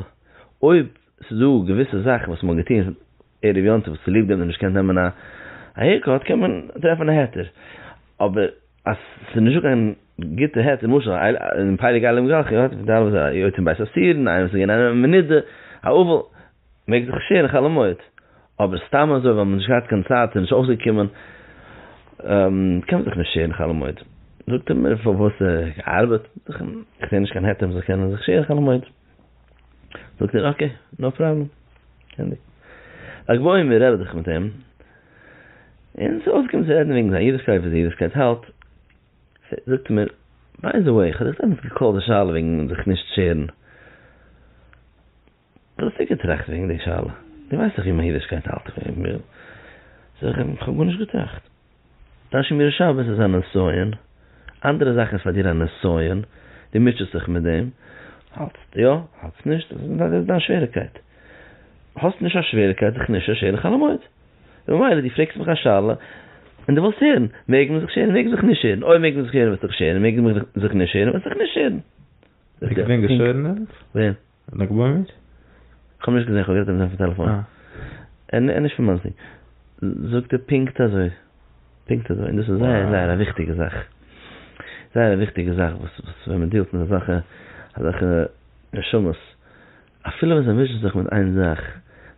אויב ס'איז דא געוויסע זאכן וואס מ'האט געטון ערב יום טוב צוליב דעם נישט געקענט נעמען א העירקאט קען מען טרעפן א היתר, אבער אז ס'איז נישטא קיין גוטע היתר למשל און פייליג אייליג מיט גלחי האט ווידער אלעס א יתום בית אסירין איינער וואס איז געווען אין א מנידה א אבל מעג זיך שערן חול המועד, אבער סתם אזוי ווייל מ'האט נישט געהאט קיין צייט און נישט אויסגעקומען קען מען זיך נישט שערן חול המועד, זאגט ער מיר פארוואס ער האט געארבעט, זאג איך אים איך זעה נישט קיין היתר מ'זאל קענען זיך שערן חול המועד. זאגט ער אקעי נאו פראבלעם קענדי א גבאי מיר רעדט זיך מיט אים און ס'איז אויסגעקומען צו רעדן וועגן זיין אידישקייט ווי אזוי אידישקייט האלט זאגט ער מיר ביי די וועי כ'האב דיר דעמאלטס געקאלט די שאלה וועגן זיך נישט שערן וואס האסטו געטראכט וועגן די שאלה דו ווייסט דאך ווי מיין אידישקייט האלט זאג איך אים כ'האב גארנישט געטראכט. תשמיר שבת איז א נסיון, אנדערע זאכן איז פאר דיר א נסיון, דו מוטשעסט זיך מיט דעם, האלטסט יא, האלטסט נישט, דאס איז דיין שוועריקייט, האסט נישט א שוועריקייט זיך נישט שערן חול המועד, ממילא דו פרעגסט מיך א שאלה, און דו ווילסט הערן, מעג מען זיך שערן מעג מען זיך נישט שערן, אויב מעג מען זיך הערן וועסטו זיך שערן, מעג מען זיך נישט שערן וועסטו זיך נישט שערן. איך בין געשערנעט? ווער? לג בעומר? כ'האב נישט געזען, כ'האב גערעדט איבער זיין פון טעלעפאן. ער איז נישט פון מאנסי. זאגט ער פונקט אזוי. פונקט אזוי. און דאס איז זייער זייער א וויכטיגע זאך. זייער א וויכטיגע זאך וואס ווען מען דיעלט מיט אזעלכע אזעלכע נשמות. אפילו ווען זיי מישן זיך מיט איין זאך,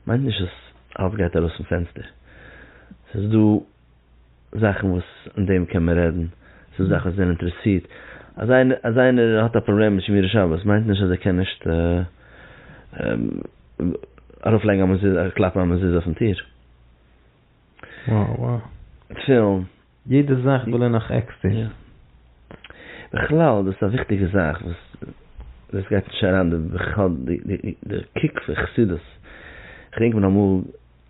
מיינט נישט אז אלץ גייט ארויס פון פענסטער. ס'איז דא. זאכן וואס אין דעם קען מען רעדן, ס'דא זאכן וואס זענען אינטערעסירט, אז איינער האט א פראבלעם מיט שמירת שבת מיינט נישט אז ער קען נישט ארויפלייגן א מזוזה, קלאפן א מזוזה אויפן טיר. תפילין. יעדע זאך וויל ער נאך עקסטער. בכלל דאס איז א וויכטיגע זאך וואס דאס גייט נישט אריין בכלל די קוק פון חסידות, כ'דענק מיר אמאל.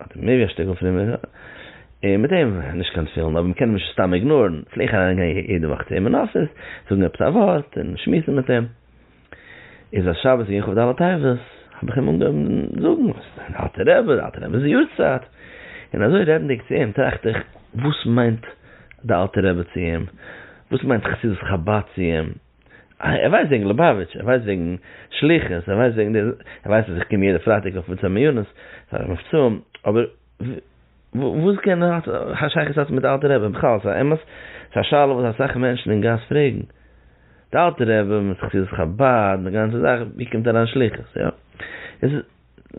האט ער מער ווי א שטיקל פרימער, און מיט אים נישט קיין תפילין, אבער מ'קען אים נישט סתם איגנארן, פלעג איך אריין גיין יעדע וואך צו אים אין אפיס, זאגן עפעס א ווארט, און שמועסן מיט אים, איז א שבת געווען כב ד אלול תרס ו, האב איך אים אנגעהויבן זאגן וואס איז דיין אלטער רבי, די אלטער רבי'ס יארצייט, און אזוי רעדנדיג צו אים טראכט איך, וואס מיינט די אלטער רבי צו אים, וואס מיינט חסידות חבד צו אים. ער ווייסט וועגן ליובאוויטש, ער ווייסט וועגן שליחות, ער ווייסט וועגן דער, ער ווייסט אז איך קום יעדע פרייטאג אויף מצוה מעונות פאר מבצעים, אבער וואס קען האט א שייכות האט מיט די אלטע רבי בכלל? ס'איז א אמת, ס'איז א שאלה וואס אסאך מענטשן אין גאס פרעגן, די אלטע רבי מיט חסידות חבד, די גאנצע זאך, ווי קומט אריין שליחות? יא, עס איז,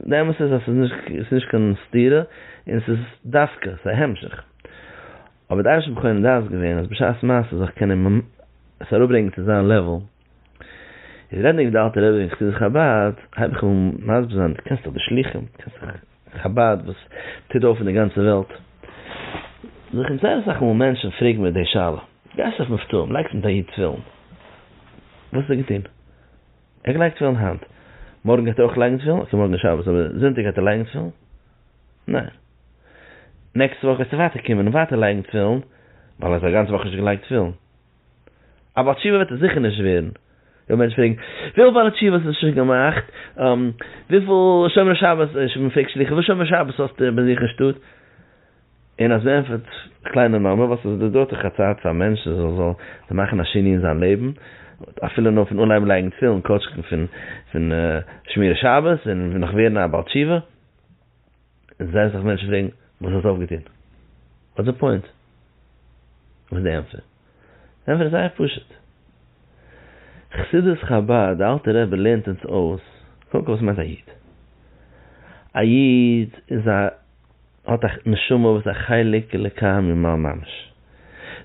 די אמת איז אז ס'איז נישט, ס'איז נישט קיין סתירה, און ס'איז דווקא, ס'איז א המשך. אבער די אנשי בחורים דעת געווען אז בשעת מעשה זאל איך קענען עס אראפברענגען צו זיין לעוועל, איז רעדענדיג די אלטע רבי און חסידי חבד, הייב איך אן מסביר זיין, דו קענסט דאך די שלוחים, דו קענסט דאך חבד וואס טוט אויף אין די גאנצע וועלט, זיך און זייער אסאך מאל מענטשן פרעגן מיר די שאלה, גייסט אויף מופתים, לייגסט מיט א איד תפילין, וואס האט ער געטון? ער האט געלייגט תפילין היינט, מארגן גייט ער אויך לייגן תפילין? אקעי מארגן איז שבת אבער זונטאג גייט ער לייגן תפילין? ניין. נעקסטע וואך וועסטו ווייטער קומען און ווייטער לייגן תפילין, ווייל האסט א גאנצע וואך נישט געלייגט תפילין. א בעל תשובה וועט עס זיכער נישט ווערן. וועט מענטש פרעגן, וויפיל בעלי תשובות האסטו שוין געמאכט? וויפיל שומרי שבת, מען פרעגט שלוחים, וויפיל שומרי שבת האסטו ביי זיך אין שטאט? און אז מען ענטפערט קליינע נומער, ווייסט אז עס דויערט דאך א צייט פאר א מענטש עס זאל זיך מאכן א שינוי אין זיין לעבן, אפילו נאר פון אנהייבן לייגן תפילין, כאטש פון שמירת שבת און נאך ווערן א בעל תשובה. זייער אסאך מענטשן פרעגן וואס האסט אויפגעטון? וואטס די פוינט? וואס איז די ענטפער? די ענטפער איז זייער פשוט, חסידות חבד, די אלטע רבי לערנט אונז אויס, קודם כל וואס מיינט א איד? א איד איז א האט א נשמה וואס איז א חלק אלוקי ממעל ממש,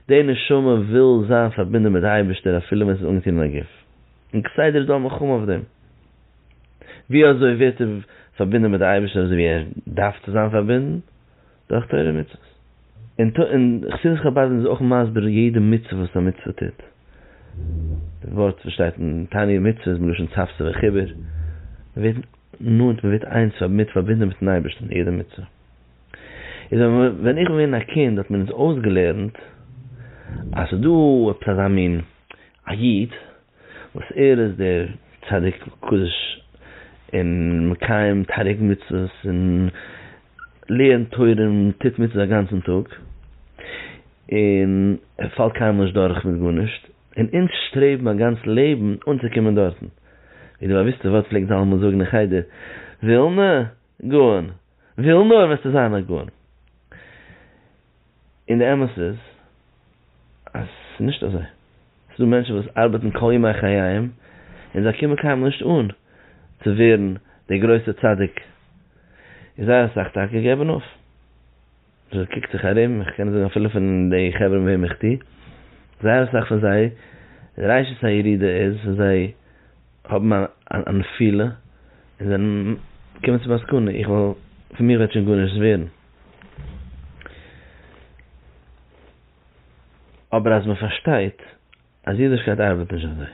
די נשמה וויל זיין פארבינדען מיט די אייבערשטער אפילו ווען ס'איז אנגעטון אין א גוף, און כסדר איז דא א מלחמה אויף דעם. ווי אזוי ווערט ער פארבינדן מיט די אייבערשטער אזוי ווי ער דארף צו זיין פארבינדן? דורך תורה ומצוות. און חסידות חבד איז אויך מסביר יעדע מצוה וואס א מצוה טוט. די ווארט וואס שטייט אין תענית מצוה איז מלשון צוותא וחיבור, מען ווערט נאנט, מען ווערט איינס מיט, פארבינדן מיטן אייבערשטן, יעדע מצוה. איז ווען איך בין געווען א קינד האט מען אונז אויסגעלערנט אז ס'איז דא עפעס אזא מין א איד, וואס ער איז דער צדיק קדוש און מקיים תריג מצוות און לערנט תורה און טוט מצוות א גאנצן טאג און ער פאלט קיינמאל נישט דורך מיט גארנישט און אונז שטרעבן א גאנץ לעבן אנצוקומען דארטן ווי די באוויסטע ווארט פלעגט זלמן זאגן אין חדר ווילנע גאון, וויל נאר וועסטו זיין א גאון. און די אמת איז אז ס'איז נישט אזוי. ס'איז דא מענטשן וואס ארבעטן כל ימי חייהם און זיי קומען קיינמאל נישט אן צו ווערן דער גרויסער צדיק. און זייער אסאך טאקע געבן אויף. זשע קוקט זיך ארום, איך קען זאגן אפילו פון די חברה מיט וועם איך טו, זייער אסאך פון זיי ראשית הירידה איז ווען זיי האבן א נפילה און זענען קומען צום מסקנא איך וועל, פון מיר וועט שוין גארנישט ווערן. אבער אז מען פארשטייט. אז אידישקייט ארבעט נישט אזוי.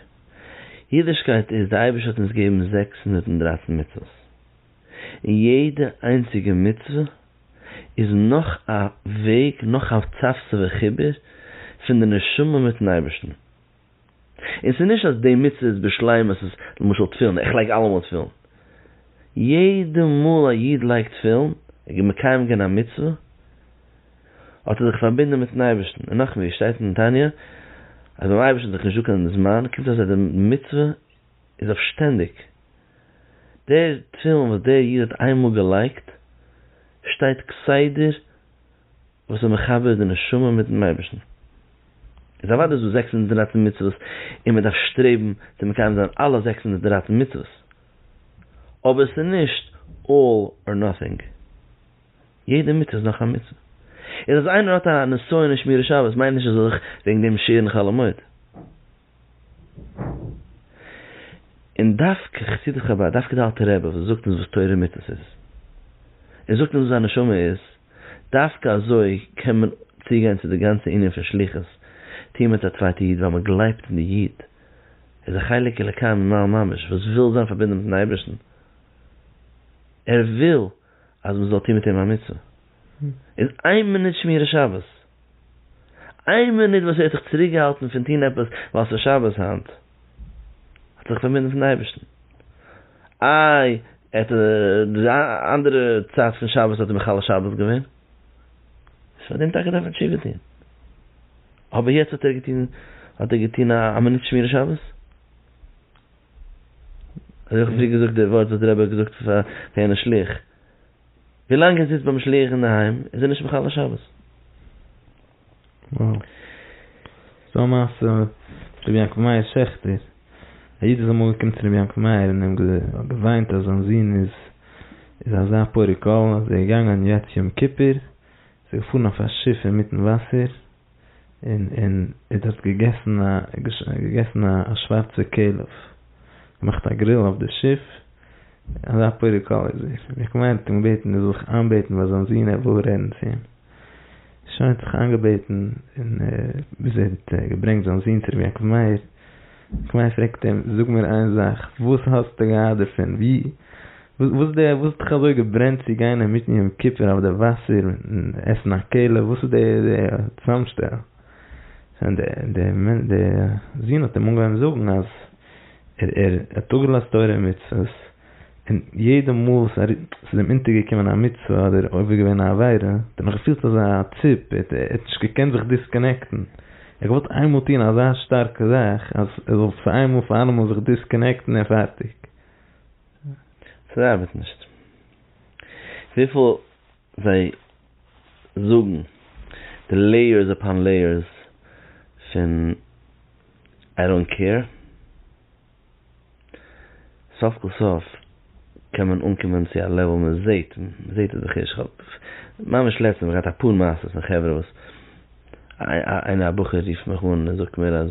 אידישקייט איז, די אייבערשטער האט אונז געגעבן זעקס הונדערט און דרײַצן מצוות, און יעדע איינציגע מצוה איז נאך א וועג, נאך א צפצפה חיבור פון די נשמה מיטן אייבערשטן, און ס'איז נישט אז די מצוה איז בשלימות, איז למשל תפילין, איך לייג אלעמאל תפילין, יעדע מאל א איד לייגט תפילין, ער איז מקיים געווען א מצוה, האט ער זיך פארבינדען מיטן אייבערשטן, און נאכדעם ווי עס שטייט אין תניא אז ביים אייבערשטן איז דאך נישטא קיין זמן, קומט אויס אז די מצוה איז אויף שטענדיג, דער תפילין וואס דער איד האט איין מאל געלייגט שטייט כסדר וואס איז מחבר די נשמה מיטן אייבערשטן, איז אוודאי איז דא זעקס הונדערט און דרײַצן מצוות און מען דארף שטרעבן צו מקיים זיין אלע זעקס הונדערט און דרײַצן מצוות, אבער עס איז נישט אלל אר נאטינג. יעדע מצוה איז נאך א מצוה. איז אז איינער האט א נסיון אין שמירת שבת מיינט נישט אז ער זאל זיך וועגן דעם שערן חלומות. און דווקא חסידי חבד, דווקא די אלטע רבי וואס זאגט אונז וואס תורה און מצוות איז, און זאגט אונז וואס א נשמה איז, דווקא אזוי קען מען צוגיין צו די גאנצע ענין פון שליחות, טוהן מיט א צווייטע איד ווייל מען גלייבט אין די איד, איז א חלק אלוקי ממעל ממש וואס וויל זיין פארבינדן מיטן אייבערשטן, ער וויל. אז מען זאל טון מיט אים א מצוה, איז איין מינוט שמירת שבת, איין מינוט וואס ער האט זיך צוריקגעהאלטן פון טון עפעס ווייל ס'איז שבת היינט, האט ער זיך פארבינדן מיט'ן אייבערשטן. איי ער האט די אנדערע צייט פון שבת האט ער מחלל שבת געווען, איז פאר דעם טאקע דארף ער תשובה טון, אבער יעצט האט ער געטון, האט ער געטון א מינוט שמירת שבת? אז איך האב דיר געזאגט די ווארט וואס דער רבי האט געזאגט צו פאר יענע שליח, ווי לאנג ער זיצט ביים שליח אינדערהיים איז ער נישט מחלל שבת. וואו. ס'דא א מעשה מיט רבי יעקב מאיר שעכטער, א איד איז אמאל געקומען צו רבי יעקב מאיר און אים געוויינט אז זיין זון איז איז אזא פורק עול אז ער איז געגאנגען יעצט יום כיפור איז ער געפארן אויף א שיף אינמיטן וואסער, און און ער דארט געגעסן א געגעסן א שווארצע כלב, געמאכט א גריל אויף די שיף, אזא פורק כל איז ער, ער האט געמיינט ער קען בעטן ער זאל זיך איינבעטן ביי זיין זון ער וויל רעדן צו אים, שוין האט זיך איינגעבעטן און ביז ער האט געברענגט זיין זון צו רבי יעקב מאיר, רבי יעקב מאיר פרעגט אים זאג מיר איין זאך וואס האסטו געהאט דערפון ווי, וואס די וואס האט דיך אזוי געברענט צו גיין אינמיטן יום כיפור אויף די וואסער און עסן א כלה וואס איז די די צוזאמשטעל? שוין די די די זון האט אים אנגעהויבן זאגן אז ער ער האט אפגעלאזט תורה און מצוות און יעדע מאל וואס ער ס'איז אים אונטערגעקומען א מצוה אדער עובר געווען א עבירה האט ער נאך געפילט אזא ציפ ער האט נישט געקענט זיך דיסקאנעקטן, ער האט געוואלט איינמאל טון אזא שטארקע זאך אז ער זאל פאר איינמאל פאר אלעמאל זיך דיסקאנעקטן און פארטיג. ס'ארבעט נישט. וויפיל זיי זאגן די לעיערס אפאן לעיערס פון איי דאנט קעיר, סוף כל סוף קען מען אנקומען צו א לעוועל מען זעהט, מען זעהט עס דאך ערשט, כ'האב ממש לעצטענס געהאט אפאר מעשות פון חברה וואס איינער א בחור רופט מיך אן און זאגט מיר אז.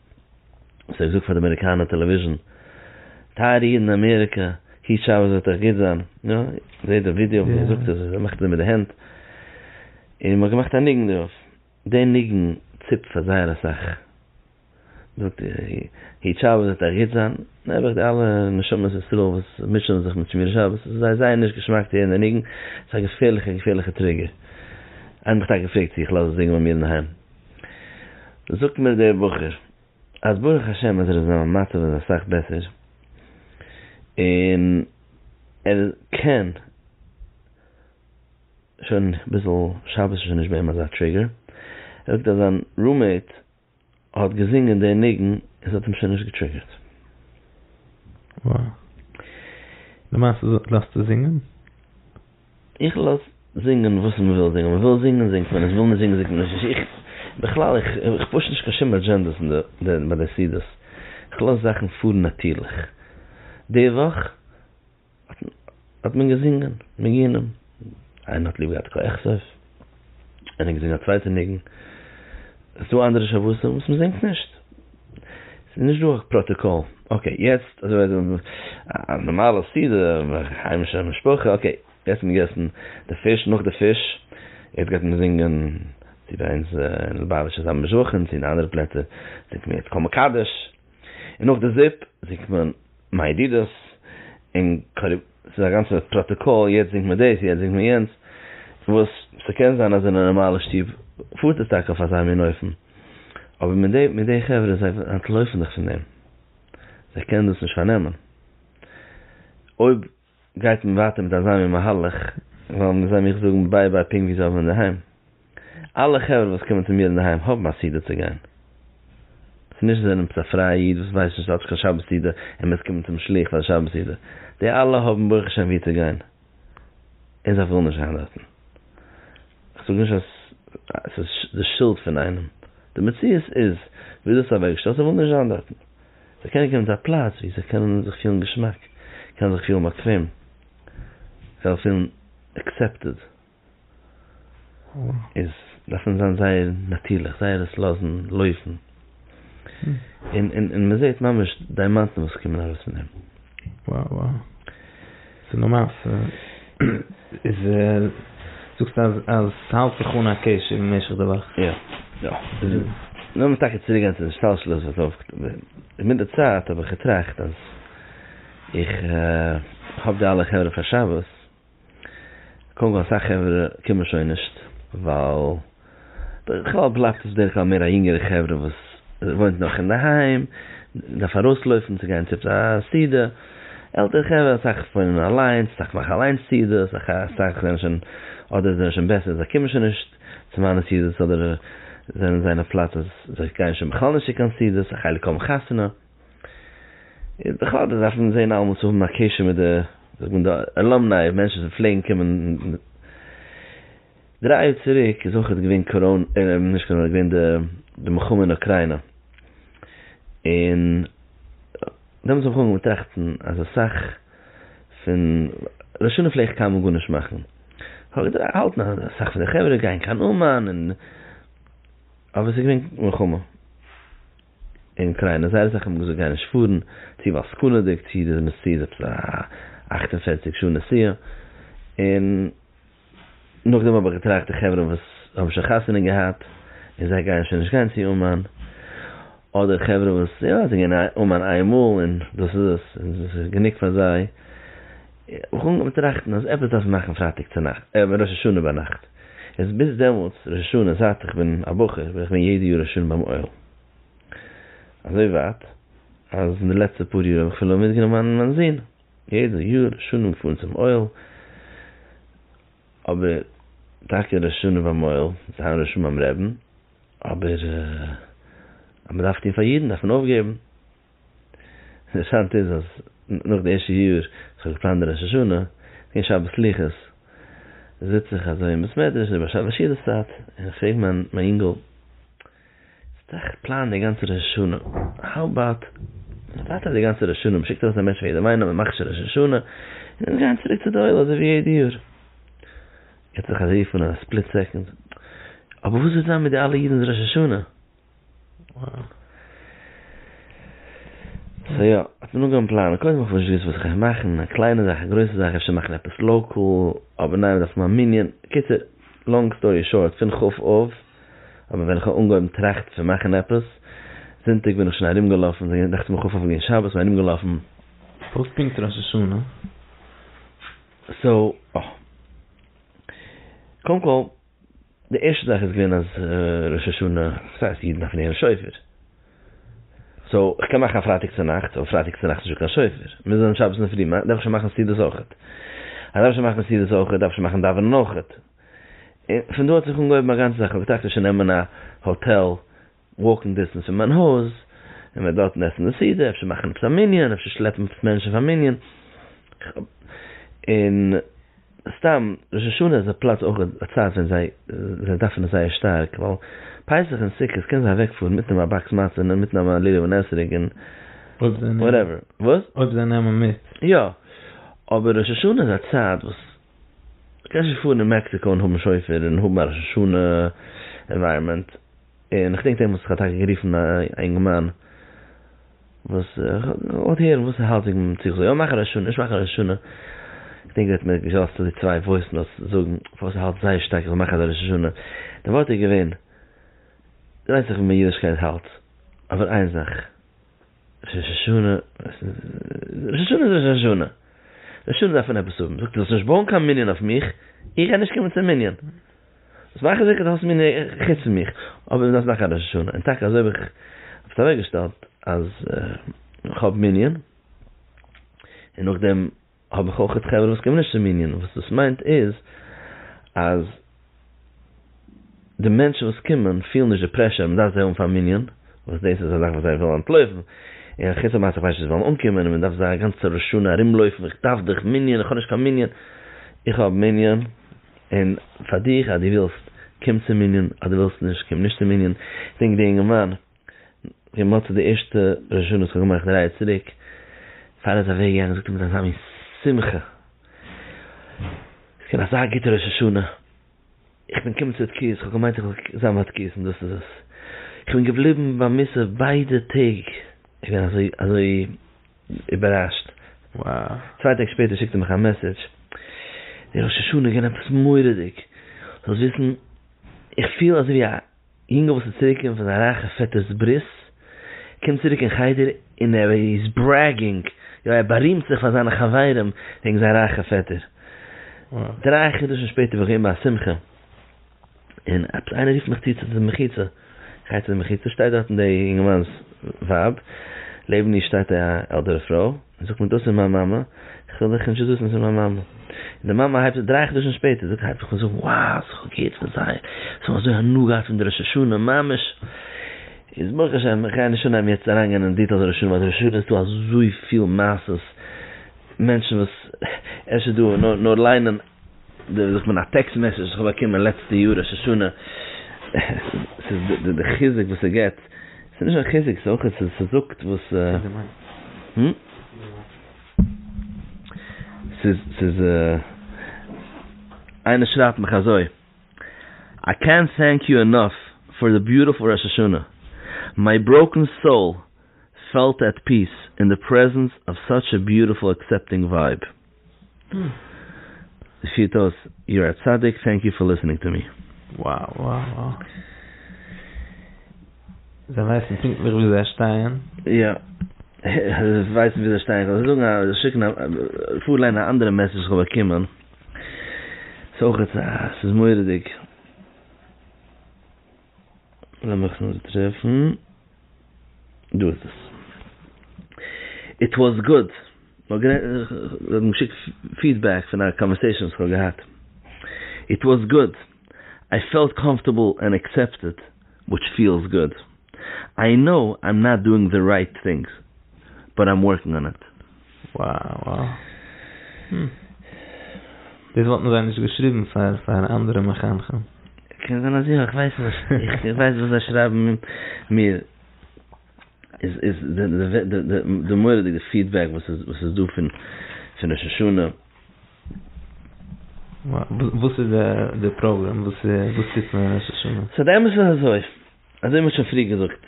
סאו איך זאג פאר די אמעריקאנע טעלעוויזשן, טייערע אידן אין אמעריקע, היט שבת וועט אייך גוט זיין, יא, זעט די ווידעא ווי ער זאגט עס, ער מאכט עס מיט די הענט, און מ'האט געמאכט א ניגון דערויף, די ניגון ציפט פאר זייער אסאך, זאגט היט שבת וועט אייך גוט זיין, נעבעך די אלע נשמות ישראל וואס מוטשענען זיך מיט שמירת שבת, עס איז זיי זייער נישט געשמאק צו הערן די ניגון, עס איז א געפערליכע געפערליכע טריגער, איינער האט מיך טאקע געפרעגט צו איך לאז עס זינגען ביי מיר אינדערהיים. זאגט מיר דער בחור אז ברוך השם אז ער איז זיין מצב איז אסאך בעסער, און ער קען שוין ביזל שבת איז שוין נישט ביי אים אזא טריגער, ער זאגט אז זיין רומעיט האט געזינגען די ניגון און ס'האט אים שוין נישט געטריגערט. וואו? למעשה לאזט ער זינגען? איך לאז זינגען וואס מען וויל זינגען, מען וויל זינגען זינגט מען, עס וויל נישט זינגען זינגט מען נישט, איך בכלל איך איך פוש נישט קיין שום אדזשענדעס אין די ביי די סידיס, איך לאז זאכן פארן נאטירליך, די וואך האט מען געזינגען ניגונים, איינער האט ליב געהאט קאיעכסעף. ער האט געזינגען א צווייטע ניגון, ס'איז דא אנדערע שבתים וואס מ'זינגט נישט, ס'איז נישט דא א פראטאקאל, אקעי יעצט אזוי ווי אזוי א נארמאלע סעודה היימישע משפחה, אקעי יעצט האט מען געגעסן די פיש, נאך די פיש יעצט גייט מען זינגען, צו ביי אונז אין ליובאוויטש איז א משבחין, צו אין אנדערע פלעצער זינגט מען יעצט כל מקדש, און נאך די זופ זינגט מען מה ידידות, און ס'איז א גאנצע פראטאקאל, יעצט זינגט מען דאס, יעצט זינגט מען יענץ, וואס ס'קען זיין אז אין א נארמאלע שטוב פארט עס טאקע אויף אזא מין אופן, אבער מיט די מיט די חברה, זיי אנטלויפן זיך פון דעם, זיי קענען דאס נישט פארנעמען. אויב גייט מען ווייטער מיט אזא מין מהלך, וועלן זיי מיך זאגן ביי ביי פונקט ווי זיי האבן אינדערהיים. אלע חברה וואס קומען צו מיר אינדערהיים האבן א סידור צו גיין. ס'איז נישט זיי נעמסט א פרייע איד וואס ווייסט נישט כאטש קיין שבת סידור און מוז קומען צום שלוח פאר די שבת סידור. די אלע האבן ברוך השם וואו צו גיין און זיי ווילן נישט גיין דארטן. כ'זאג נישט אז ס'איז די שולד פון איינעם. די מציאות איז ווי דאס איז אוועקגעשטעלט. זיי ווילן נישט זיין דארטן. זיי קענען קומען צו א פלאץ וואו זיי קענען זיך פילן געשמאק, קענען זיך פילן באקוועם, קענען זיך פילן עקסעפטעד. איז דארף מען זיין זייער נאטירליך זייער עס לאזן לויפן און און מען זעט ממש דיימאנטן וואס קומען ארויס פון אים. וואו וואו ס'איז נאר מעשה. איז זאגסט אז אז ס'האלט זיך אן א קשר במשך די וואך. יא יא לאמיר טאקע צוריק גיין צו די השתלשלות וואס אויף און מיט די צייט האב איך געטראכט אז איך האב די אלע חברה פאר שבת. קודם כל אסאך חברה קומען שוין נישט ווייל בכלל בלייבט עס בדרך כלל מער א יונגערע חברה וואס וואוינט נאך אינדערהיים און דארף ארויסלויפן צו גיין צו א סעודה, עלטערע חברה אסאך וואוינען אליינס אסאך מאכן אליינס סעודות אסאך זענען שוין אדער זענען שוין בעסער זיי קומען שוין נישט צו מיינע סעודות אדער זענען זיי אין א פלאץ אז זיי גייען שוין בכלל נישט צו קיין סעודות א חלק האבן חתונה. איז בכלל די זאך פון זעהן אלעמאל צו האבן א קשר מיט די זאגט מען די אלאמניי מענטשן וואס פלעגן קומען דריי יאר צוריק איז אויכעט געווען קאראנע נישט קאראנע געווען די די מלחמה אין אוקריינא און דעמאלטס האב איך אנגעהויבן טראכטן אז אסאך פון ר' שונא פלעגט קיינמאל גארנישט מאכן כ'האב געהאלטן אז אסאך פון די חברה גייען קיין אומאן און אבער ס'איז געווען מלחמה. אין קריינע זייער אסאך האבן געזאגט גייען נישט פארן, צו ווייל סכנה'דיג, צו דאס מוז צו איז עפעס א אַכט און פֿערציק שעה נסיעה, און נאכדעם האב איך געטראכט די חברה וואס האבן שוין חתונה געהאט און זיי גייען שוין נישט גיין צו אומאן, אדער חברה וואס יא זיי גייען אומאן איינמאל און דאס איז עס און דאס איז גענוג פאר זיי, איך האב אנגעהויבן טראכטן אז עפעס דארף מען מאכן פרייטאג צונאכט, אה, ראש השנה ביינאכט. איז ביז דעמאלטס, ראש השנה, זייט איך בין א בחור, בין איך געווען יעדע יאר ראש השנה ביים אוהל. אזוי ווייט, אז אין די לעצטע פאר יאר האב איך אפילו מיטגענומען מיין זון, יעדע יאר ראש השנה געפארן צום אוהל. אבער טאקע ראש השנה ביים אוהל, זיין ראש השנה ביים רעבין, אבער אז מען דארף טון פאר אידן, דארף מען אויפגעבן. אינטערעסאנט איז אז נאך די ערשטע יאר וואס איך האב געפלאנט די ראש השנה אין שבת סליחות זיץ איך אזוי אין בית מדרש אין באשעווה שידעס צייט און איך פרעג מיין מיין אינגל זאגסט איך פלאן די גאנצע ראש השנה האו אבאוט מ'ווארט אויף די גאנצע ראש השנה מ'שיקט ארויס א מענטש פאר יעדעם איינעם מ'מאכט שוין ראש השנה און אונז גייען צוריק צו די עולה אזוי ווי יעדע יאר ער האט זיך אזוי פון א ספליט סעקאנד אבער וואס וועט זיין מיט די אלע אידענס ראש השנה? סאו יא, האט מען אנגעהויבן פלאנען, קודם האב איך נישט געוואוסט וואס איך גיי מאכן, א קליינע זאך, א גרויסע זאך, אפשר מאכן עפעס לאקאל, אבער ניין מ'דארף האבן א מנין, קיצור, לאנג סטארי שארט, פון ח ו האבן ווען איך האב אנגעהויבן טראכטן פון מאכן עפעס, זונטאג בין איך שוין ארומגעלאפן, זינט דאכט זיך מיר ח ו האב איך געווען שבת און ארומגעלאפן. פארט פונקט ראש השנה. סאו יא. קודם כל. די ערשטע זאך איז געווען אז ראש השנה, וואס הייסט אידן דארפן הערן שופר? סאו איך קען מאכן א פרייטאג צונאכטס, אבער פרייטאג צונאכטס איז שוין קיין שופר, מיר זענען שבת אינדערפרי, מ'דארף שוין מאכן סעודות אויכעט, אז דארף שוין מאכן סעודות אויכעט, דארף שוין מאכן דאווענען אויכעט, און פון דא האט זיך אנגעהויבן א גאנצע זאך, כ'האב געטראכט אפשר נעמען א האטעל, וואקינג דיסטענס פון מיין הויז, און וועט דארטן עסן די סעודה, אפשר מאכן עפעס א מנין, אפשר שלעפן מענטשן פאר מנין, און סתם ראש השנה איז א פלאץ אויך א צייט ווען זיי זיי דארפן עס זייער שטארק, ווייל פסח און סוכות קענען זיי אוועק פארן מיטנעמען א באקס מצה און מיטנעמען א לולב און אתרוג און וואטעווער, וואס? אויב זיי נעמען מיט. יא, אבער ראש השנה איז א צייט וואס קענסט נישט פארן אין מעקסיקא און האבן שופר און האבן א ראש השנה ענווייראמענט. און איך דענק דעם וואס איך האב טאקע גערופן א אינגערמאן וואס כ'וואלט הערן וואס ער האלט וועגן דעם צו איך זאל יא מאכן א ראש השנה נישט מאכן א ראש השנה, איך דענק ער האט מיר געלאזט אזוי צוויי וואויס נאוטס זאגן פארוואס ער האלט זייער שטארק איך זאל מאכן אזא ראש השנה, די ווארט איז געווען, דו ווייסט דאך ווי מיין אידישקייט האלט, אבער איין זאך. ראש השנה, ראש השנה איז ראש השנה, ראש השנה דארף מען עפעס האבן, זאגט ער זאלסט נישט בויען קיין מנין אויף מיך, איך גיי נישט קומען צום מנין, זאלסט מאכן זיכער דו האסט מנין חוץ פון מיך, אבער מ'דארף מאכן א ראש השנה, און טאקע אזוי האב איך עס אוועקגעשטעלט אז איך האב מנין, און נאכדעם. האב איך אויכעט חברה וואס קומען נישט צום מנין, וואס דאס מיינט איז אז די מענטשן וואס קומען פילן נישט די פרעשור אז מ'דארף זיי האבן פארן מנין, וואס דאס איז א זאך וואס זיי ווילן אנטלויפן, און אחוץ המעשה איך ווייס נישט צו זיי וועלן אנקומען און מ'דארף זיי א גאנצע ראש שנה ארומלויפן איך דארף דיך מנין איך האב נישט קיין מנין, איך האב מנין און פאר דיך אז דו ווילסט קום צום מנין אז דו ווילסט נישט קום נישט צום מנין, איך דענק די אינגערמאן כמעט די ערשטע ראש השנה וואס כ'האב געמאכט דרײַ יאר צוריק, פאר ער איז אוועק געגאנגען זאגט ער מיט אזא מין שמחה, ס'געווען אזא גוטע ראש השנה, איך בין געקומען צו די תקיעות, כ'האב געמיינט איך וועל זיין ביי תקיעות און דאס איז עס, כ'בין געבליבן ביי מוסף ביידע טעג, איך בין אזוי אזוי איבערראשט, צוויי טעג שפעטער שיקט ער מיך א מעסעדזש, די ראש השנה איז געווען עפעס מורא'דיג, זאלסט וויסן איך פיל אזויווי א. יונגעל וואס איז צוריק געקומען פון א רייכע פעטער'ס ברית, קומט צוריק אין חדר און ער איז ברעגינג, יא ער בארימט זיך פאר זיינע חברים וועגן זיין רייכע פעטער. דריי חדשים שפעטער בין איך געווען ביי א שמחה און עפעס איינער רופט מיך צו צו די מחיצה, איך גיי צו די מחיצה, שטייט דארטן די יונגערמאנ'ס ווייב, לעבן איר שטייט א עלטערע פרוי, זאגט מען דאס איז מיין מאמע, איך וויל דיך נישט זיסן ס'איז מיין מאמע. און די מאמע הייבט זיך דריי חדשים שפעטער זאגט הייבט זיך אן זאגן וואו ס'איז כ'האב געהערט פון זיי זיי האבן אזוי הנאה געהאט פון די ראש השנה ממש איז ברוך השם איך גיי נישט אנהייבן יעצט אריינגיין אין דיטעלס ראש השנה ווייל ראש השנה איז דא אזויפיל מעשות מענטשן וואס אפשר דא נאר נאר ליינען דער זיך מיט א טעקסט מעסעדזש וואס כ'האב באקומען לעצטע יאר ראש השנה, ס'איז די חיזוק וואס ס'געט, ס'איז נישט נאר חיזוק ס'איז אויך ס'זאגט וואס, ס'איז ס'איז איינער שרייבט מיך אזוי, איי קענט טענק יו ענאף פאר די ביוטיפול ראש השנה, מיי בראוקן סאול פעלט עט פיס אין די פרעזענס אוו סאטש א ביוטיפול עקסעפטינג ווייב. די פירט אויס, יור א צדיק, טענק יו פאר ליסענינג טו מי. Wow wow wow. זיי ווייסן פונקטליך ווי זיי שטייען? יא. זיי ווייסן ווי זיי שטייען. איך וועל זאגן א, שיקן א, פארליינען א אנדערע מעסעדזש וואס איך האב באקומען. ס'איז אויכעט א, ס'איז מורא'דיג. לאמיך נאר טרעפן, דא איז עס. איט וואס גוד, מ'האט גערעדט, זיי האבן געשיקט פידבעק פון א קאנווערסעישאן וואס כ'האב געהאט. איט וואס גוד, איי פעלט קאמפארטעבל ענד אקסעפטעד, וויטש פיעלס גוד. איי קנאו איים נאט דואינג די רייט טינגס, באט איים ווארקינג אן איט. וואו וואו. הום. דאס וואלטן זיי נישט געשריבן פאר פאר אנדערע מחנכים. קען זיין אז יא, איך ווייס נישט. איך ווייס וואס זיי שרייבן מיר איז איז די די די די מורא'דיגע פידבעק וואס איז וואס איז דא פון פון ראש השנה. וואו וואס איז די די פראגרעם וואס וואס טוט מען ראש השנה? ס'איז באמת אזוי, אזוי ווי מ'האט שוין פריער געזאגט.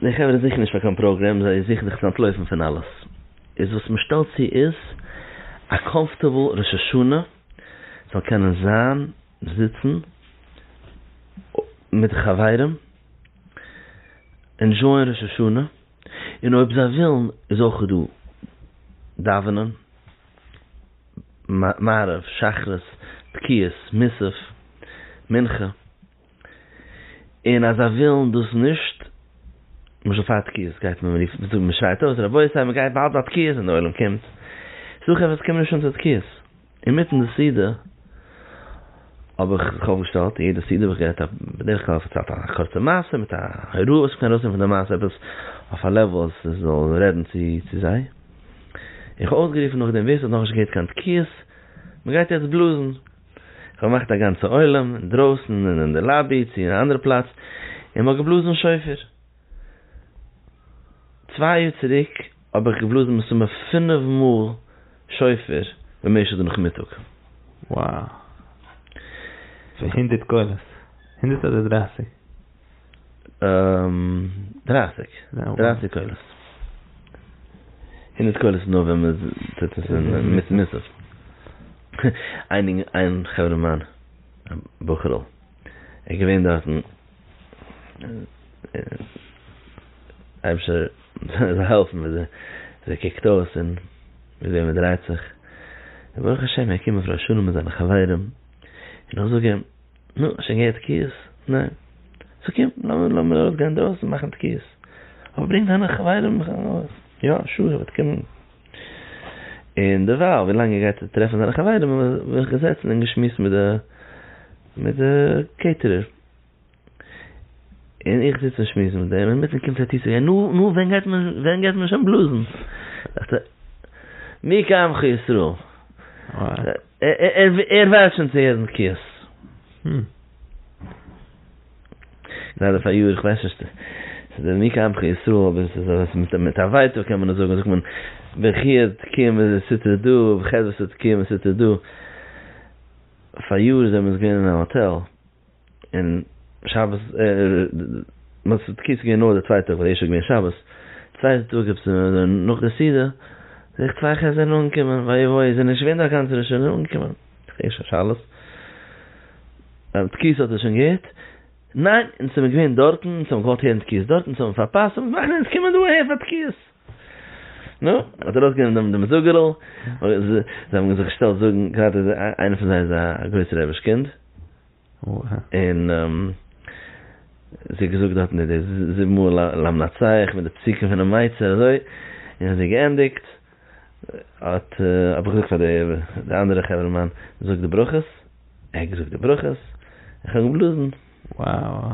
די חברה זוכן נישט פאר קיין פראגרעם, זיי זוכן זיך צו אנטלויפן פון אלעס. איז וואס מען שטעלט צו איז א קאמפארטעבל ראש השנה זאל קענען זיין זיצן מיט די חברים, ענדזשויען ראש השנה, און אויב זיי ווילן איז אויך דא דאווענען מעריב, שחרית, תקיעות, מוסף, מנחה. און אז זיי ווילן דאס נישט, למשל פאר תקיעות גייט מען רופן, מ'זאגט מ'שרייט אויס רבותי מ'גייט באלד א תקיעות און די עולם קומט, ס'דא חברה וואס קומען נישט אן צו תקיעות, אינמיטן די סעודה האב איך זיך אויפגעשטעלט, און יעדע סעודה האב איך גערעדט א, בדרך כלל פארציילט א קורצע מעשה מיט א הוראה וואס מ'קען ארויסנעמען פון די מעשה עפעס אויף א לעוול אז ס'זאל רעדן צו זיי, און כ'האב אויסגערופן נאכדעם ווער ס'האט נאכנישט געהערט קיין תקיעות, מ'גייט יעצט בלאזן. איך האב געמאכט א גאנצע עולם אינדרויסן און אין די לאבי צו א אנדערע פלאץ און מ'האט געבלאזן שופר. צוויי יאר צוריק האב איך געבלאזן מסתמא פינף מאל שופר במשך די נאכמיטאג. וואו! פון הונדערט קולות? הונדערט אדער דרייסיג? דרײַסיק, דרײַסיק קולות. הונדערט קולות איז נאר ווען מען טוט עס מיט מוסף. איין חברה מיין, א בחור'ל, ער איז געווען דארטן, אייבערשטער זאל העלפן וויאזוי ער קוקט אויס און וויאזוי מען דרייט זיך, ברוך השם ער קומט מיט ר' שלום און זיינע חברים, און איך זאג אים. נו, האסט שוין געהערט תקיעות? ניין. סאו קום, לאמיר ארויסגיין אינדרויסן און מאכן תקיעות. אבער ברענג דיינע חברים ארויס. יא, שור וועט קומען. און דערווייל, ווילאנג ער גייט טרעפן זיינע חברים, האבן מיר זיך געזעצן און געשמועסט מיט די, מיט די קעיטערער. און איך זיץ און שמועס מיט דעם, אינמיטן קומט ער צו צו גיין, נו, נו, ווען גייט מען, ווען גייט מען שוין בלאזן? דאכט ער, מי כעמך ישראל? ער ווארט שוין צו הערן בקיאות. הום. גראדע פאריאר, איך ווייס נישט, ס'איז דער ניק עמך ישראל, אבער ס'איז אזוי מיט מיט א ווייטאג קען מען עס זאגן, זאגט מען, ברכיו תקום וסתר דא, ובחדוותו תקום וסתר דא. פאריאר זעמיר עס געווען אין א האטעל. און שבת מצות תקיעות איז געווען נאר די צווייטע טאג ווייל די ערשטע איז געווען שבת, צווייטע טאג איז נאך די סעודה, זעה איך צוויי חזר'ן אנגעקומען, וואי וואי, זענען נישט געווען דא א גאנצע ראש השנה אנגעקומען, איך הער שוין שאלות, אז תקיעות האט ער שוין געהערט, ניין אונז זעמיר געווען דארטן, אונז האמיר געוואלט הערן תקיעות דארט, אונז האמיר פארפאסט, אונז מאכן אונז קומען דא אהער פאר תקיעות. נו, מען האט ארויסגענומען דעם דעם זאגערל, זיי האבן זיך געשטעלט זאגן, גראדע איז איינער פון זיי איז א גרויסע רעביש קינד, און זי האט געזאגט דארטן די זיבן מאל למנצח מיט די פסוקים פונעם מייצר אזוי, און ווען זי האט געענדיגט האט האב איך געזאגט פאר די די אנדערע חברה מאן, זאג די ברכות, ער האט געזאגט די ברכות, איך האב געבלאזן. וואו.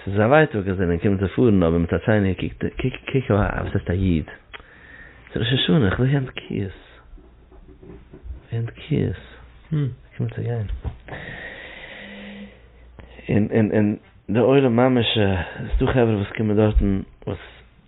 ס'איז א ווייטאג אז ער קומט צו פארן אבער מיט א טשייניער קוקט ער קוק קוק וואס הייסט א איד? ס'איז ראש השנה איך וויל גיין דקיות גיין דקיות הום ער קומט צו גיין און און און די עולם ממש ס'דא חברה וואס קומען דארטן וואס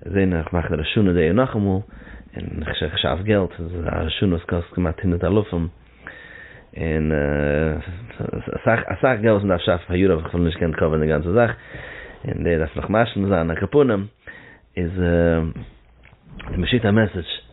זען איך מאכן ראש השנה די יאר נאכאמאל, און איך שאף געלט, א ראש השנה וואס קאסט כמעט הונדערט אלפים, און אסאך אסאך געלט וואס מ'דארף שאפן פער יאר האב איך אפילו נישט געקענט קאווערן די גאנצע זאך, און דער דארף נאך משלים זיין א קאפונים, איז די משית א מעסעדזש.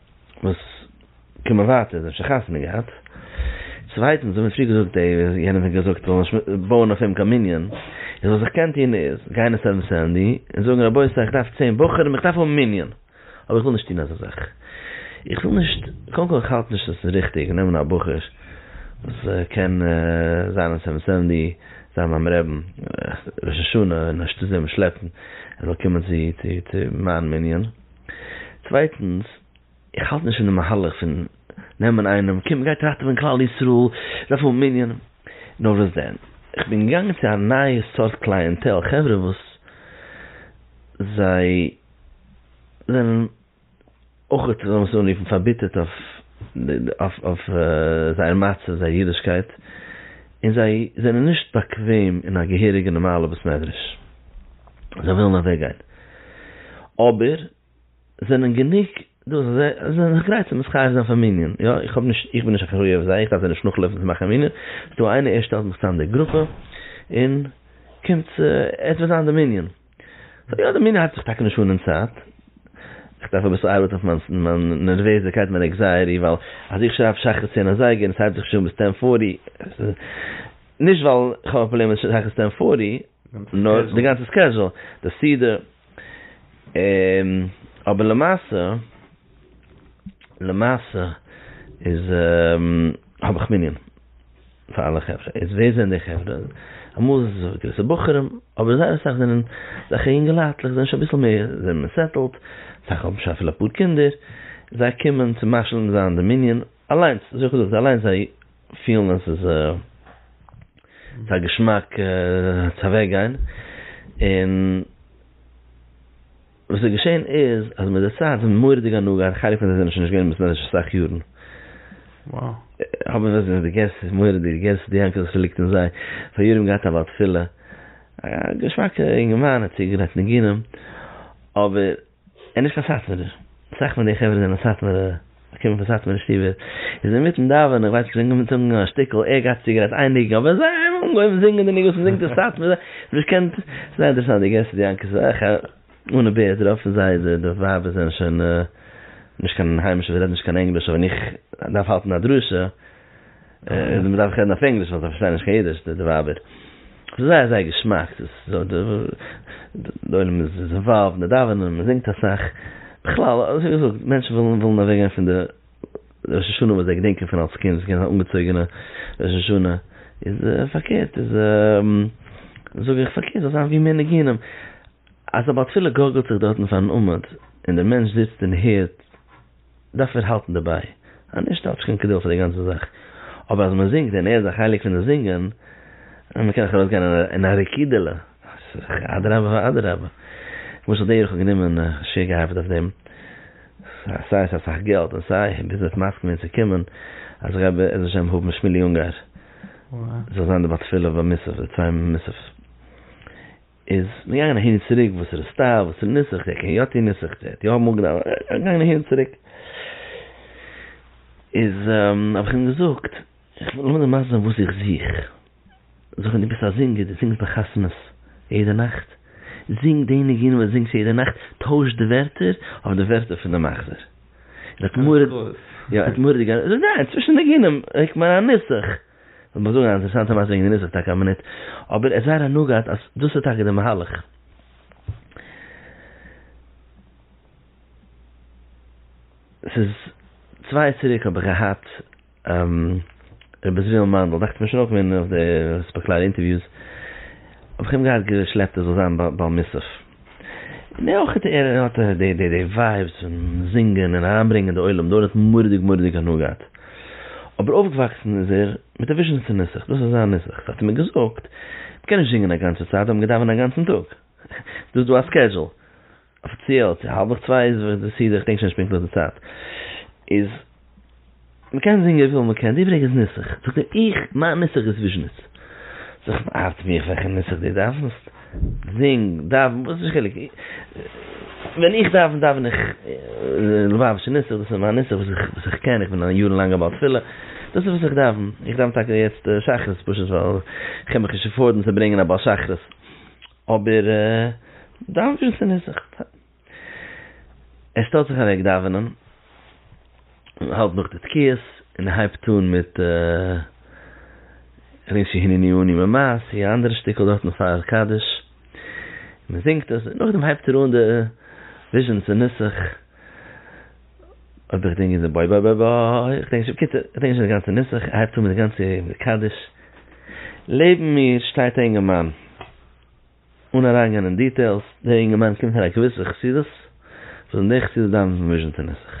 וואס קומען ווייטער זיי האבן שוין חתונה געהאט, צווייטענס האבן מיר פריער געזאגט די יענעם האט געזאגט זאל נישט בויען אויף אים קיין מנין, איז וואס איך קען טון איז גיין אין סעווען סענדי און זאגן רבותי איך דארף צען בחורים איך דארף האבן מנין, אבער איך וויל נישט טון אזא זאך, איך וויל נישט קודם כל איך האלט נישט אז עס איז ריכטיג נעמען א בחור וואס קען זיין אין סעווען סענדי זיין ביים רעבן ראש השנה און אנשטאט אים שלעפן ער זאל קומען צו מיין מנין. צווייטנס, איך האלט נישט פון די מהלך פון נעמען איינעם, קום גיי טראכטן פון כלל ישראל, ס'איז א פול מנין, נאר וואס דען, איך בין געגאנגען צו א נייע סארט קלייענטעל, חברה וואס זיי זענען אויך, וועל איך עס אנרופן, פארביטערט אויף. אויף זייער מצב, זייער אידישקייט, און זיי זענען נישט באקוועם אין א געהעריגע נארמאלע בית מדרש, זיי ווילן אוועק גיין, אבער זענען גענוג דא אז זיי זענען זיך גרייט צו מתחייב זיין פאר מנין, יא, איך בין נישט אחראי אויף זיי, איך דארף זיי נישט נאכלויפן צו מאכן מנין, ס'איז דא איינער ער שטעלט מיך צוזאם די גרופע, און קומטס עס וועט זיין די מנין. סאו יא די מנין האלט זיך טאקע נישט אן אין צייט, איך דארף אביסל ארבעטן אויף מיין נערוועזעקייט מיין עקזייעטי ווייל אז איך שרייב שחרית צען אזייגער און עס הייבט זיך נישט אן ביז טען פארטי, נישט ווייל איך האב א פראבלעם מיט שחרית טען פארטי, נאר די גאנצע סקעזשול, די סידור, אבער למעשה, למעשה איז האב איך מנין. פאר אלע חברה, איז ווער זענען די חברה? אמאל איז עס געוויסע בחורים, אבער זייער אסאך זענען אזעלכע יונגעלייטלעך, זענען שוין אביסל מער, זענען מער סעטעלד, אסאך האבן שוין אפילו אפאר קינדער, זיי קומען צו משלים זיין די מנין אליינס, אזוי האב איך געזאגט, אליינס זיי פילן אז עס איז א געשמאק צו אוועק גיין, און. וואס איז געשען איז אז מיט די צייט און מורא'דיגע הנהגה און חלק פון זיי זענען שוין נישט געווען אין בית מדרש פאר אסאך יארן, האבן זיי די געסט מורא'דיג די געסט די יענקעלע ס'ליגט אין זיי, פאר יארן געהאט א בעל תפילה, א געשמאקע אינגערמאן האט צוגעגרייט ניגונים, אבער ער איז נישט קיין סאטמארער, אסאך פון די חברה זענען סאטמארע. געקומען פון סאטמארע שטיבער, איז אינמיטן דאווענען, איך ווייס נישט, אנגעהויבן זינגען א שטיקל, ער גייט צו גרייט איין ניגון, אבער זיי האבן אנגעהויבן זינגען די ניגון וואס מ'זינגט אין סאטמאר, זיי האבן נישט געקענט, זייער אינטערעסאנט, די געסט די יענקי זאך, אן א בערד רוב פון זיי די ווייבער זענען שוין נישט קיין היימישע, זיי רעדן נישט קיין ענגליש, אבער ווען איך דארף האלטן א דרשה, און מ'דארף רעדן אויף ענגליש ווייל זיי פארשטייען נישט קיין אידיש די ווייבער. ס'איז זייער זייער געשמאק. די עולם איז אינוואלווד און די דאווענען, מ'זינגט אסאך. בכלל, ווי געזאגט, מענטשן ווילן אוועק גיין פון די ראש השנה וואס זיי געדענקען פון אלס קינד, ס'געווען אן אנגעצויגענע ראש השנה. איז פארקערט איז זאג איך פארקערט זאל זיין ווי מער ניגונים. אז א בעל תפילה גארגלט זיך דארטן פארן עמוד, און דער מענטש זיצט און הערט. דארף ער האלטן דערביי, אז נישט האט נישט קיין קדושה די גאנצע זאך, אבער אז מען זינגט און ער איז א חלק פון די זינגען, און מען קען נאך ארויסגיין אין א רקידה'לע, אז אדרבה ואדרבה, למשל דער איך האב גענומען א שיעור געהאפעט אויף דעם, סיי ס'איז אסאך געלט און סיי ביז מען וועט מסכים ווערן צו קומען, אז איך גיי בעזר השם האבן שמילי אונגאר זאל זיין די בת תפלה ביי מוסף, די צוויי מוסף. איז מ'געגאנגען אהין און צוריק וואס ר' סטאוו, וואס ר' ניסך, דער קען יא טוהן ניסך, דער האט יא אמאל געדאווענט, מ'געגאנגען אהין און צוריק, איז האב איך אים געזאגט, לאמיר דיר מסביר זיין וואס איך זוך, זאג מיר דו ביסט א זינגער, דו זינגסט ביי חתונות יעדע נאכט, זינג די ניגונים וואס דו זינגסט יעדע נאכט, טויש די ווערטער אויף די ווערטער פון די מחזור, ער האט מורא, יא ער האט מורא די גאנ, איך זאג ניין, צווישן ניגונים, איך מיין א ניסך. כ'וועל נאך זאגן א אינטערעסאנטע מעשה וועגן די נוסח טאקע א מינוט, אבער עס איז זייער הנאה געהאט אז דאס איז טאקע די מהלך. ס'איז צוויי יאר צוריק האב איך געהאט ר' עזריאל מאנדל, דאכט מיר שוין אויך געווען אויף די ספעקלאר אינטערוויוס, האב איך אים געהאט געשלעפט ער זאל זיין בעל מוסף, און אויך ער האט די די די ווייבס פון זינגען און אריינברענגען די עולם דארט האט מוראדיג מוראדיג הנאה געהאט, אבער אויפגעוואקסן איז ער מיט א וויזשניצע נוסח, דאס איז זיין נוסח, ס'האט ער מיר געזאגט, מ'קען נישט זינגען א גאנצע צייט, האבן געדאווענט א גאנצן טאג, ס'איז דא א סקעדזשול, אפיציעל צו האלבעך צוויי איז די סידור, כ'דענק שוין נישט פונקטליך די צייט, איז. מען קען זינגען וויפיל מען קען, די פרעגסט נוסח, זאגט ער, איך, מיין נוסח איז וויזשניץ. זאגט מען, ארט מיך וועלכע נוסח דו דאווענסט, זינג, דאווען, וואס איז די חילוק, ווען איך דאווען, דאווען איך לובאוויטשער נוסח, דאס איז מיין נוסח וואס איך, וואס איך קען, איך בין א יארן לאנגער בעל תפילה, דאס איז וואס איך דאווען, איך דאווען טאקע יעצט שחרית פשוט ווייל איך קען מיך נישט עפארדן צו ברענגען א בעל שחרית, אבער דאווען ווי דאס איז נוסח. ער שטעלט זיך אוועק דאווענען, האלט נאך די תקיעות, און הייבט אן מיט ר' הנני אני ממעשי', א אנדערע שטיקל דארטן פאר קדיש, מען זינגט עס, און נאכדעם הייבט ער אן די וויזשניצע נוסח, אויב איך דענק גוט, בוי בוי בוי בוי, איך דענק נישט, בקיצור, איך דענק נישט די גאנצע נוסח, ער הייבט אן מיט די גאנצע קדיש, לעבן מיר שטייט א אינגערמאן, אן אריינגיין אין דיטעילס, דער אינגערמאן קומט פון א געוויסע חסידות, וואס אין די חסידות דארף מען ווישן די נוסח.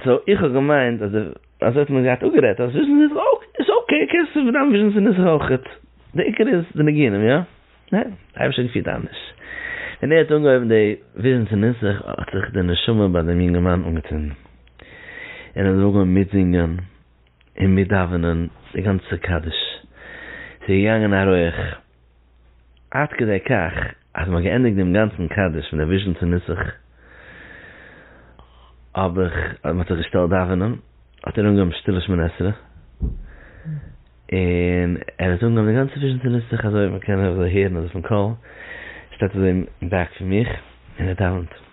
סאו איך האב געמיינט אז די, אזוי האט מען געהאט אפגערעדט, אז ווישן די נוסח איז אקעי, קענסט דארפן ווישן די נוסח אויכעט, די עיקר איז די ניגונים, איא? ניין, אייבערשטער האט געפירט אנדערש. ווען ער האט אנגעהויבן די ווישן די נוסח האט זיך די נשמה ביי דעם יונגערמאן אנגעצינדן, און ער האט אנגעהויבן מיטזינגען, און מיר דאווענען די גאנצע קדיש, ס'איז געגאנגען א רויעך, עד כדי כך אז מ'האט געענדיגט דעם גאנצן קדיש פון דער וויזשניצער נוסח, האב איך, אז מ'האט זיך געשטעלט דאווענען, האט ער אנגעהויבן שטילע שמונה עשרה, און ער האט אנגעהויבן די גאנצע וויזשניצער נוסח אזוי ווי מ'קען אזוי הערן אזויפן קול, שטייט אזוי אין בעק פון מיך און ער דאווענט.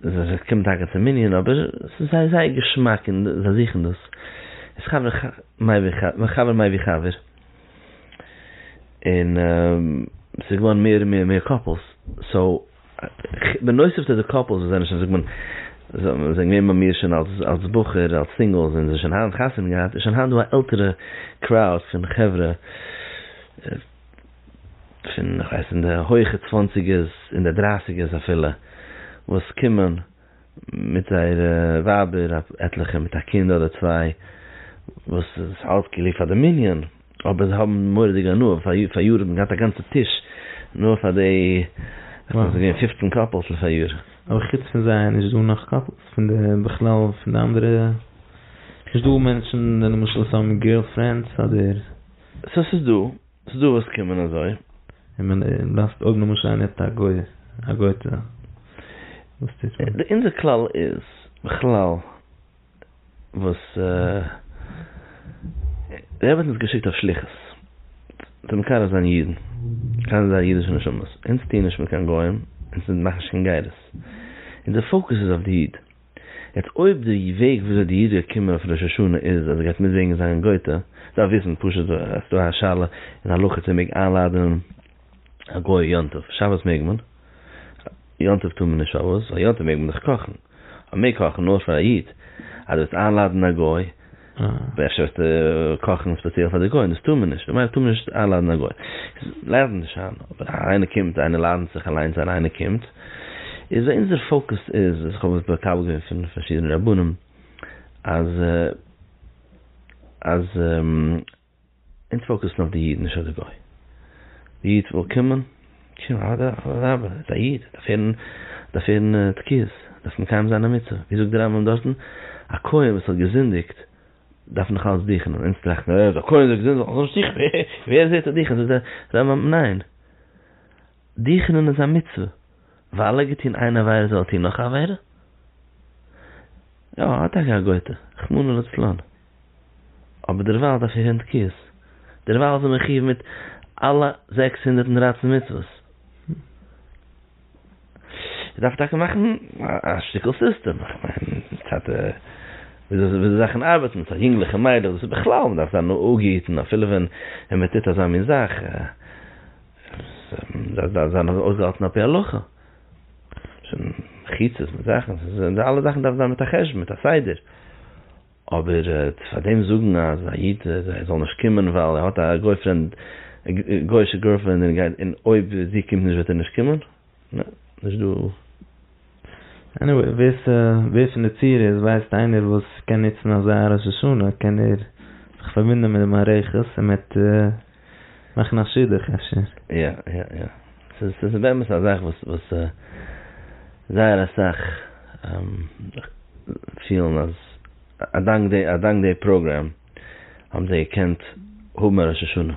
זיי זיי קומען טאקע צום מנין אבער ס'איז זיי זייער געשמאק און זיי זוכן דאס איז חבר ח מאי ווי ח מאי חבר מאי ווי חבר און ס'איז געווארן מער און מער מער קאפלס סאו בנוסף צו די קאפלס וואס זענען שוין זאגט מען זיי זענען געווען ביי מיר שוין אלס אלס בחור אלס סינגעלס און זיי שוין היינט חתונה געהאט איז שוין היינט דא א עלטערע קראוד פון חברה. פון איך ווייס אין די הויכע צוואנציגערס אין די דרייסיגערס אפילו וואס קומען מיט זייערע ווייבער עטליכע מיט א קינד אדער צוויי וואס איז אלעס כאילו פאר די מנין אבער זיי האבן מורא'דיג הנאה פאר יאר האט מען געהאט א גאנצע טיש נאר פאר די איך מיין ס'איז געווען פופצן קאפעלס לפער יאר. אבער חוץ פון זיי איז נישט דא נאך קאפעלס פון די בכלל פון די אנדערע נישט דא מענטשן למשל וואס האבן גירל פרענדס אדער. סאו ס'איז דא, ס'איז דא וואס קומען אזוי. און מען דארפסט אויב למשל איינער האט א גוי א גוי'טע וואס טוט מען? די אונזער כלל איז בכלל וואס דער רבי האט אונז געשיקט אויף שליחות צו מקרב זיין אידן, מקרב זיין אידישע נשמות, אונז טוען נישט מיט קיין גוים, אונז מאכן נישט קיין גערעס, אונזער פאוקוס איז אויף די איד. יעצט אויב די וועג וויאזוי די איד גייט קומען אויף ראש השנה איז אז ער גייט מיטזינגען זיין גויטע, דארף וויסן פשוט אז ס'דא א שאלה אין הלכה צו מען מעג איינלאדענען א גוי יום טוב, שבת מעג מען, יום טוב טאר מען נישט פארוואס? ווייל יום טוב מעג מען דאך קאכן, מען מעג קאכן נאר פאר א איד, אז די וועסט איינלאדענען א גוי אבער אפשר וועסטו קאכן ספעציעל פאר די גוים, דאס טאר מען נישט, ממילא טאר מען נישט איינלאדען א גוי, ליידער נישט שיין, אבער איינער קומט, איינער לאדענט זיך אליינס איין, איינער קומט, איז אונזער פאוקוס איז, איך האב עס מקבל געווען פון פארשידענע רבנים, אז אז. אונז פאוקעסן אויף די איד נישט אויף די גוי. די איד וויל קומען, שוין אדרבה ער איז א איד ער דארף הערן תקיעות, ער דארף מקיים זיין א מצוה, ווי זאגט די רמב ם דארטן, א כהן וואס האט געזינדיגט דארף נאך אלץ דוכענען, אונז טראכטן אה א כהן האט געזינדיגט זאל ער נישט דוכענען, ווער זעהט א דוכען, זאגט די רמב ם ניין, דוכענען איז א מצוה, ווייל ער האט געטון איין עבירה זאל ער טון נאך א עבירה? יא ער האט טאקע א גויטע, רחמנא לצלן. אבער דערווייל דארף איר הענט קיאות, דערווייל זענען מיר חיוב מיט אלע זעקס הונדערט און דרײַצן מצוות. איר דארפט טאקע מאכן א שטיקל סיסטעם, איך מיין, מצד וויאזוי זאכן ארבעטן, מצד יונגליכע מיידלעך, דאס איז בכלל, מען דארף זיין נאגעיטן אפילו ווען מען טוט אזא מין זאך, עס דארף זיין אויסגעהאלטן על פי הלכה, מחיצות מיט זאכן, אלע זאכן דארף זיין מיט א חשבון, מיט א סדר. אבער צו פאר דעם זאגן אז א איד זאל נישט קומען ווייל ער האט א גויפרענד, גויאישע גורלפרענד און אויב זי קומט נישט וועט ער נישט קומען? נע, נישט דא. עניוועי, ווער פון די צוהערערס ווייסט איינער וואס קען נוצן אזא ראש השנה קען ער זיך פארבינדען מיט די מערכת און מ'עט. מאכן א שידוך אפשר. יא יא יא. ס'איז ס'איז באמת א זאך וואס וואס זייער אסאך פילן אז אדאנק די אדאנק די פראגרעם האבן זיי געקענט האבן א ראש השנה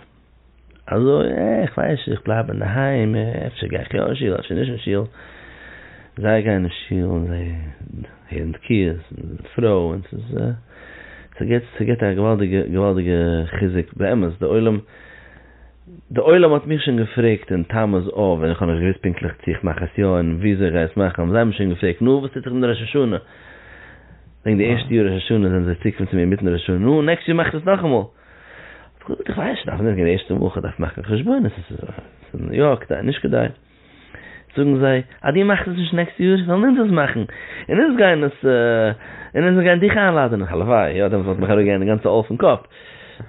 אזוי אה איך ווייס נישט איך בלייב אינדערהיים אפשר גיי איך יא אין שול אפשר נישט אין שול. זיי גייען אין שול און זיי. און תקיעות און פרויען ס'איז ס'געט ס'געט א געוואלדיגע געוואלדיגע חיזוק באמת די עולם די עולם האט מיך שוין געפרעגט אין תמוז אב ווען איך האב נישט געוויסט פונקטליך צו איך מאך עס יא און וויאזוי איך גיי עס מאכן האבן זיי מיר שוין געפרעגט נו וואס טוט זיך אין די ראש השנה וועגן די ערשטע יאר ראש השנה זענען זיי צוגעקומען צו מיר אינמיטן ראש השנה נו נעקסט יאר מאכסט עס נאכאמאל איך האב געזאגט איך ווייס נישט דארף נישט גיין די ערשטע וואך איך דארף מאכן חשבונות עס איז יא כדאי נישט כדאי. זאגן זיי, אז דו מאכסט עס נישט נעקסטע יאר, וועלן אונז עס מאכן, און אונז גייען עס, און אונז גייען דיך איינלאדענען, הלוואי, יא, דעמאלטס וואלט מיך אראפ געגאנגען די גאנצע עול פון קאפ,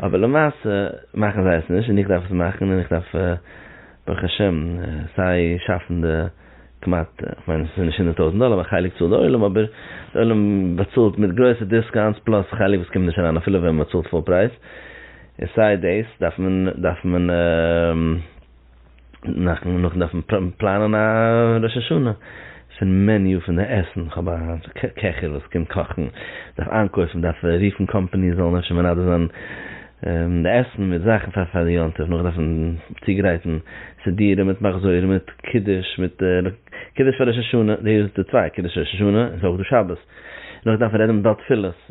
אבער למעשה מאכן זיי עס נישט, און איך דארף עס מאכן, און איך דארף ברוך השם סיי שאפן די כמעט, איך מיין עס איז נישט הונדערט טויזנט דאלער, מיין חלק צאלט די עולם, אבער די עולם באצאלט מיט גרויסע דיסקאונטס, פלאס חלק וואס קומט נישט אריין אפילו ווען מען צאלט פול פרייז, און סיי דאס דארף מען, דארף מען. נאכן נאכן דארפן פלאנען א ראש השנה פון מעניו פון די עסן, איך האב א קעכער וואס קען קאכן, דארף איינקויפן, דארף רופן קאמפאניס זאלן אפשר מנדב זיין די עסן מיט זאכן פאר פאר די יום טוב, נאך דארפן צוגרייטן סידורים מיט מחזור מיט קידוש מיט קידוש פאר ראש השנה, דאס איז די צוויי, קידוש ראש השנה, איז אויך דא שבת, נאך דארפן רעדן מיט בעל תפילות.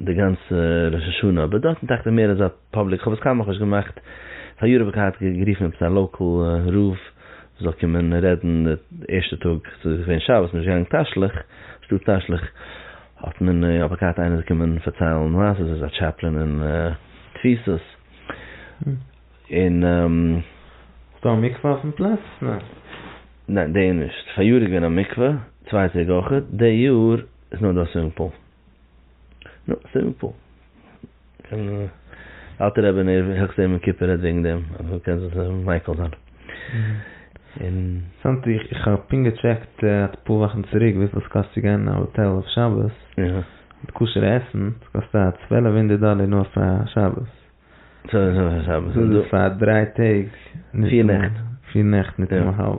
די גאנצע ראש השנה אבער דארט איז דאכט זיך מער אזא פאבליק כ'האב עס קיינמאל נאכנישט געמאכט פאר יארן האב איך געהאט גערופן עפעס א לאקעל רב וואס זאל קומען רעדן די ערשטע טאג ס'איז געווען שבת מ'איז נישט געגאנגען תשליך שטאט תשליך האט מען האב איך געהאט איינער קומען פארציילן מעשה'ס איז א טשעפלען אין תפיסות און ס'דא א מקווה אויפן פלאץ? ניין די יאר נישט פאריאר איז געווען א מקווה צוויי טעג אויך די יאר איז נאר דא א סווימינג פול. נו, סימפל. און אלטער רבי נער העכסט יום כיפור רעדט וועגן דעם, אז מען קען זיך מייקל זיין. אינטערעסאנט, איך האב פונקט געטשעקט אפאר וואכן צוריק וויפיל עס קאסט צו גיין אין א האטעל אויף שבת, מיט כשר עסן, עס קאסט א צוועלף הונדערט דאלער נאר פאר שבת. דאס איז פאר דריי טעג. פיר נעכט. פיר נעכט ניט און א האלב.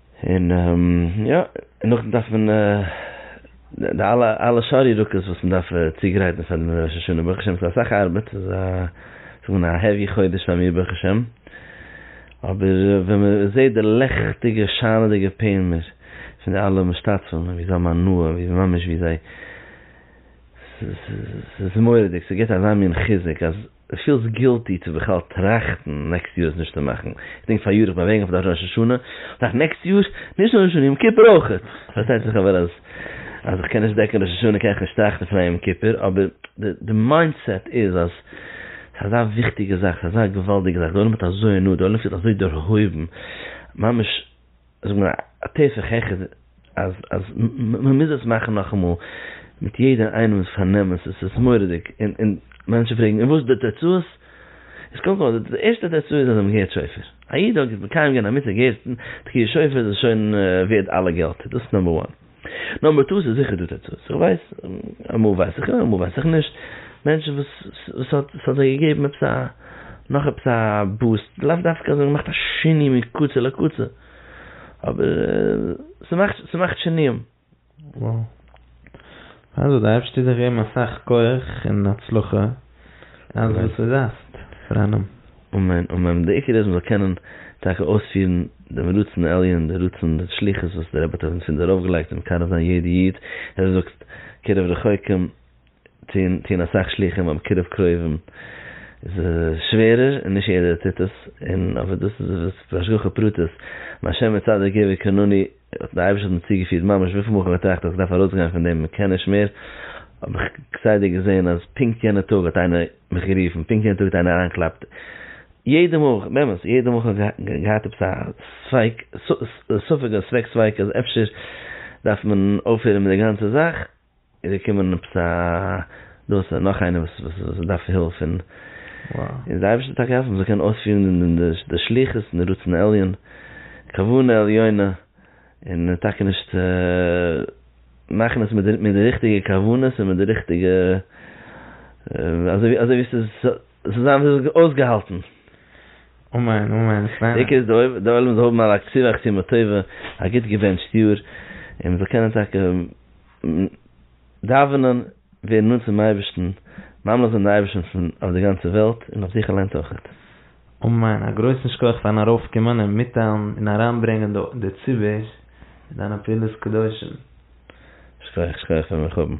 און יא, און נאכדעם דארף מען די אלע אלע שאר ירקות וואס מען דארף צוגרייטן פאר דעם ראש השנה, ברוך השם ס'איז אסאך ארבעט, ס'איז א זאג מען א העווי חודש פאר מיר ברוך השם, אבער ווען מען זעט די לעכטיגע שיינעדיגע פענער פון די אלע משתתפים ווי זיי האבן הנאה, ווי ממש ווי זיי, ס'איז מורא'דיג, ס'געבט אזא מין חיזוק אז. די פילסט גילטי צו בכלל טראכטן נעקסט יאר עס נישט צו מאכן? איך דענק פאריאר איך בין אוועקגעגאנגען פאר די ראש השנה, דאך נעקסט יאר נישט ראש השנה יום כיפור אויכעט, פארשטייט זיך אבער אז אז איך קען נישט דעקן ראש השנה קען איך נישט טראכטן פון א יום כיפור, אבער די די מיינד סעט איז אז ס'איז אזא וויכטיגע זאך, ס'איז אזא געוואלדיגע זאך, די עולם האט אזוי הנאה, די עולם פילט אזוי דערהויבן, ממש זאגט מען א תוס' העכער אז אז מ'מוז עס מאכן נאכאמאל מיט יעדער איינעמס פארנעם עס איז מורא'דיג און און מענטשן פרעגן און וואס די תוצאות איז קודם כל די ערשטע תוצאה איז אז זיי האבן געהערט שופר א איד האט מקיים געווען א מצוה געהערט תקיעת שופר איז שוין ווערד אלע געלט דאס איז נאמבער וואן. נאר מיט טעות איז זיכער דא תוצאות, איך ווייס, אמאל ווייס איך יא אמאל ווייס איך נישט, מענטשן וואס ס'האט ס'האט זיי געגעבן עפעס א נאך עפעס א בוסט, לאו דווקא אז זיי האבן געמאכט א שינוי מקצה לקצה, אבער ס'מאכט ס'מאכט שינויים. וואו. אלזא דארפסטו דיר געבן אסאך כח און הצלחה. אלעס וואס דו זייסט פאר א נאמען. אמן אמן, דער עיקר איז מ'זאל קענען טאקע אויספירן דעם רצון העליון, דער רצון דער שליחות וואס דער רבי האט אויף אונז פונדער ארויפגעלייגט און מקרב זיין יעדע איד, ווי דו זאגסט קירוב רחוקים טוהן טוהן אסאך שליחים אבער קירוב קרובים איז שווערער און נישט יעדער טוט עס, און אבער דאס איז וואס בהשגחה פרטית מהשם יתעלה געווער קנני. די אייבערשטער האט מיר צוגעפירט ממש וויפיל מאל איך האב געטראכט אז איך דארף ארויסגיין פון דעם מקען נישט מער, האב איך כסדר געזען אז פונקט יענע טאג האט איינער מיך גערופן, פונקט יענע טאג האט איינער אריינגעקלאפט, יעדע מאל, באמת, יעדע מאל איך האב געהאט עפעס א ספק, ספק, א ספק ספק אז אפשר דארף מען אויפהערן מיט די גאנצע זאך, איז געקומען עפעס א דאס און נאך איינער וואס דארף הילף און און די אייבערשטער האט טאקע געהאלפן זיי קענען אויספירן די שליחות און רצון עליון כוונה עליונה און טאקע נישט מאכן עס מיט די ריכטיגע כוונות און מיט די ריכטיגע אזוי ווי ס'זאל זיין אויסגעהאלטן. אמן אמן. דיקא איז די עולם זאל האבן א לאקטיווע חתימה טובה, א גוט געבענטשט יאר, און מ'זאל קענען טאקע. דאווענען, ווערן נאנט צום אייבערשטן, ממליך זיין די אייבערשטן פון אויף די גאנצע וועלט און אויף זיך אליינס אויכעט. אמן, א גרויסן שכח פארן ארויף קומען און מיטטיילן און אריין ברענגען די ציבור מיט דיינע פעולות קדושים. שכוח שכוח ווען מיר האבן.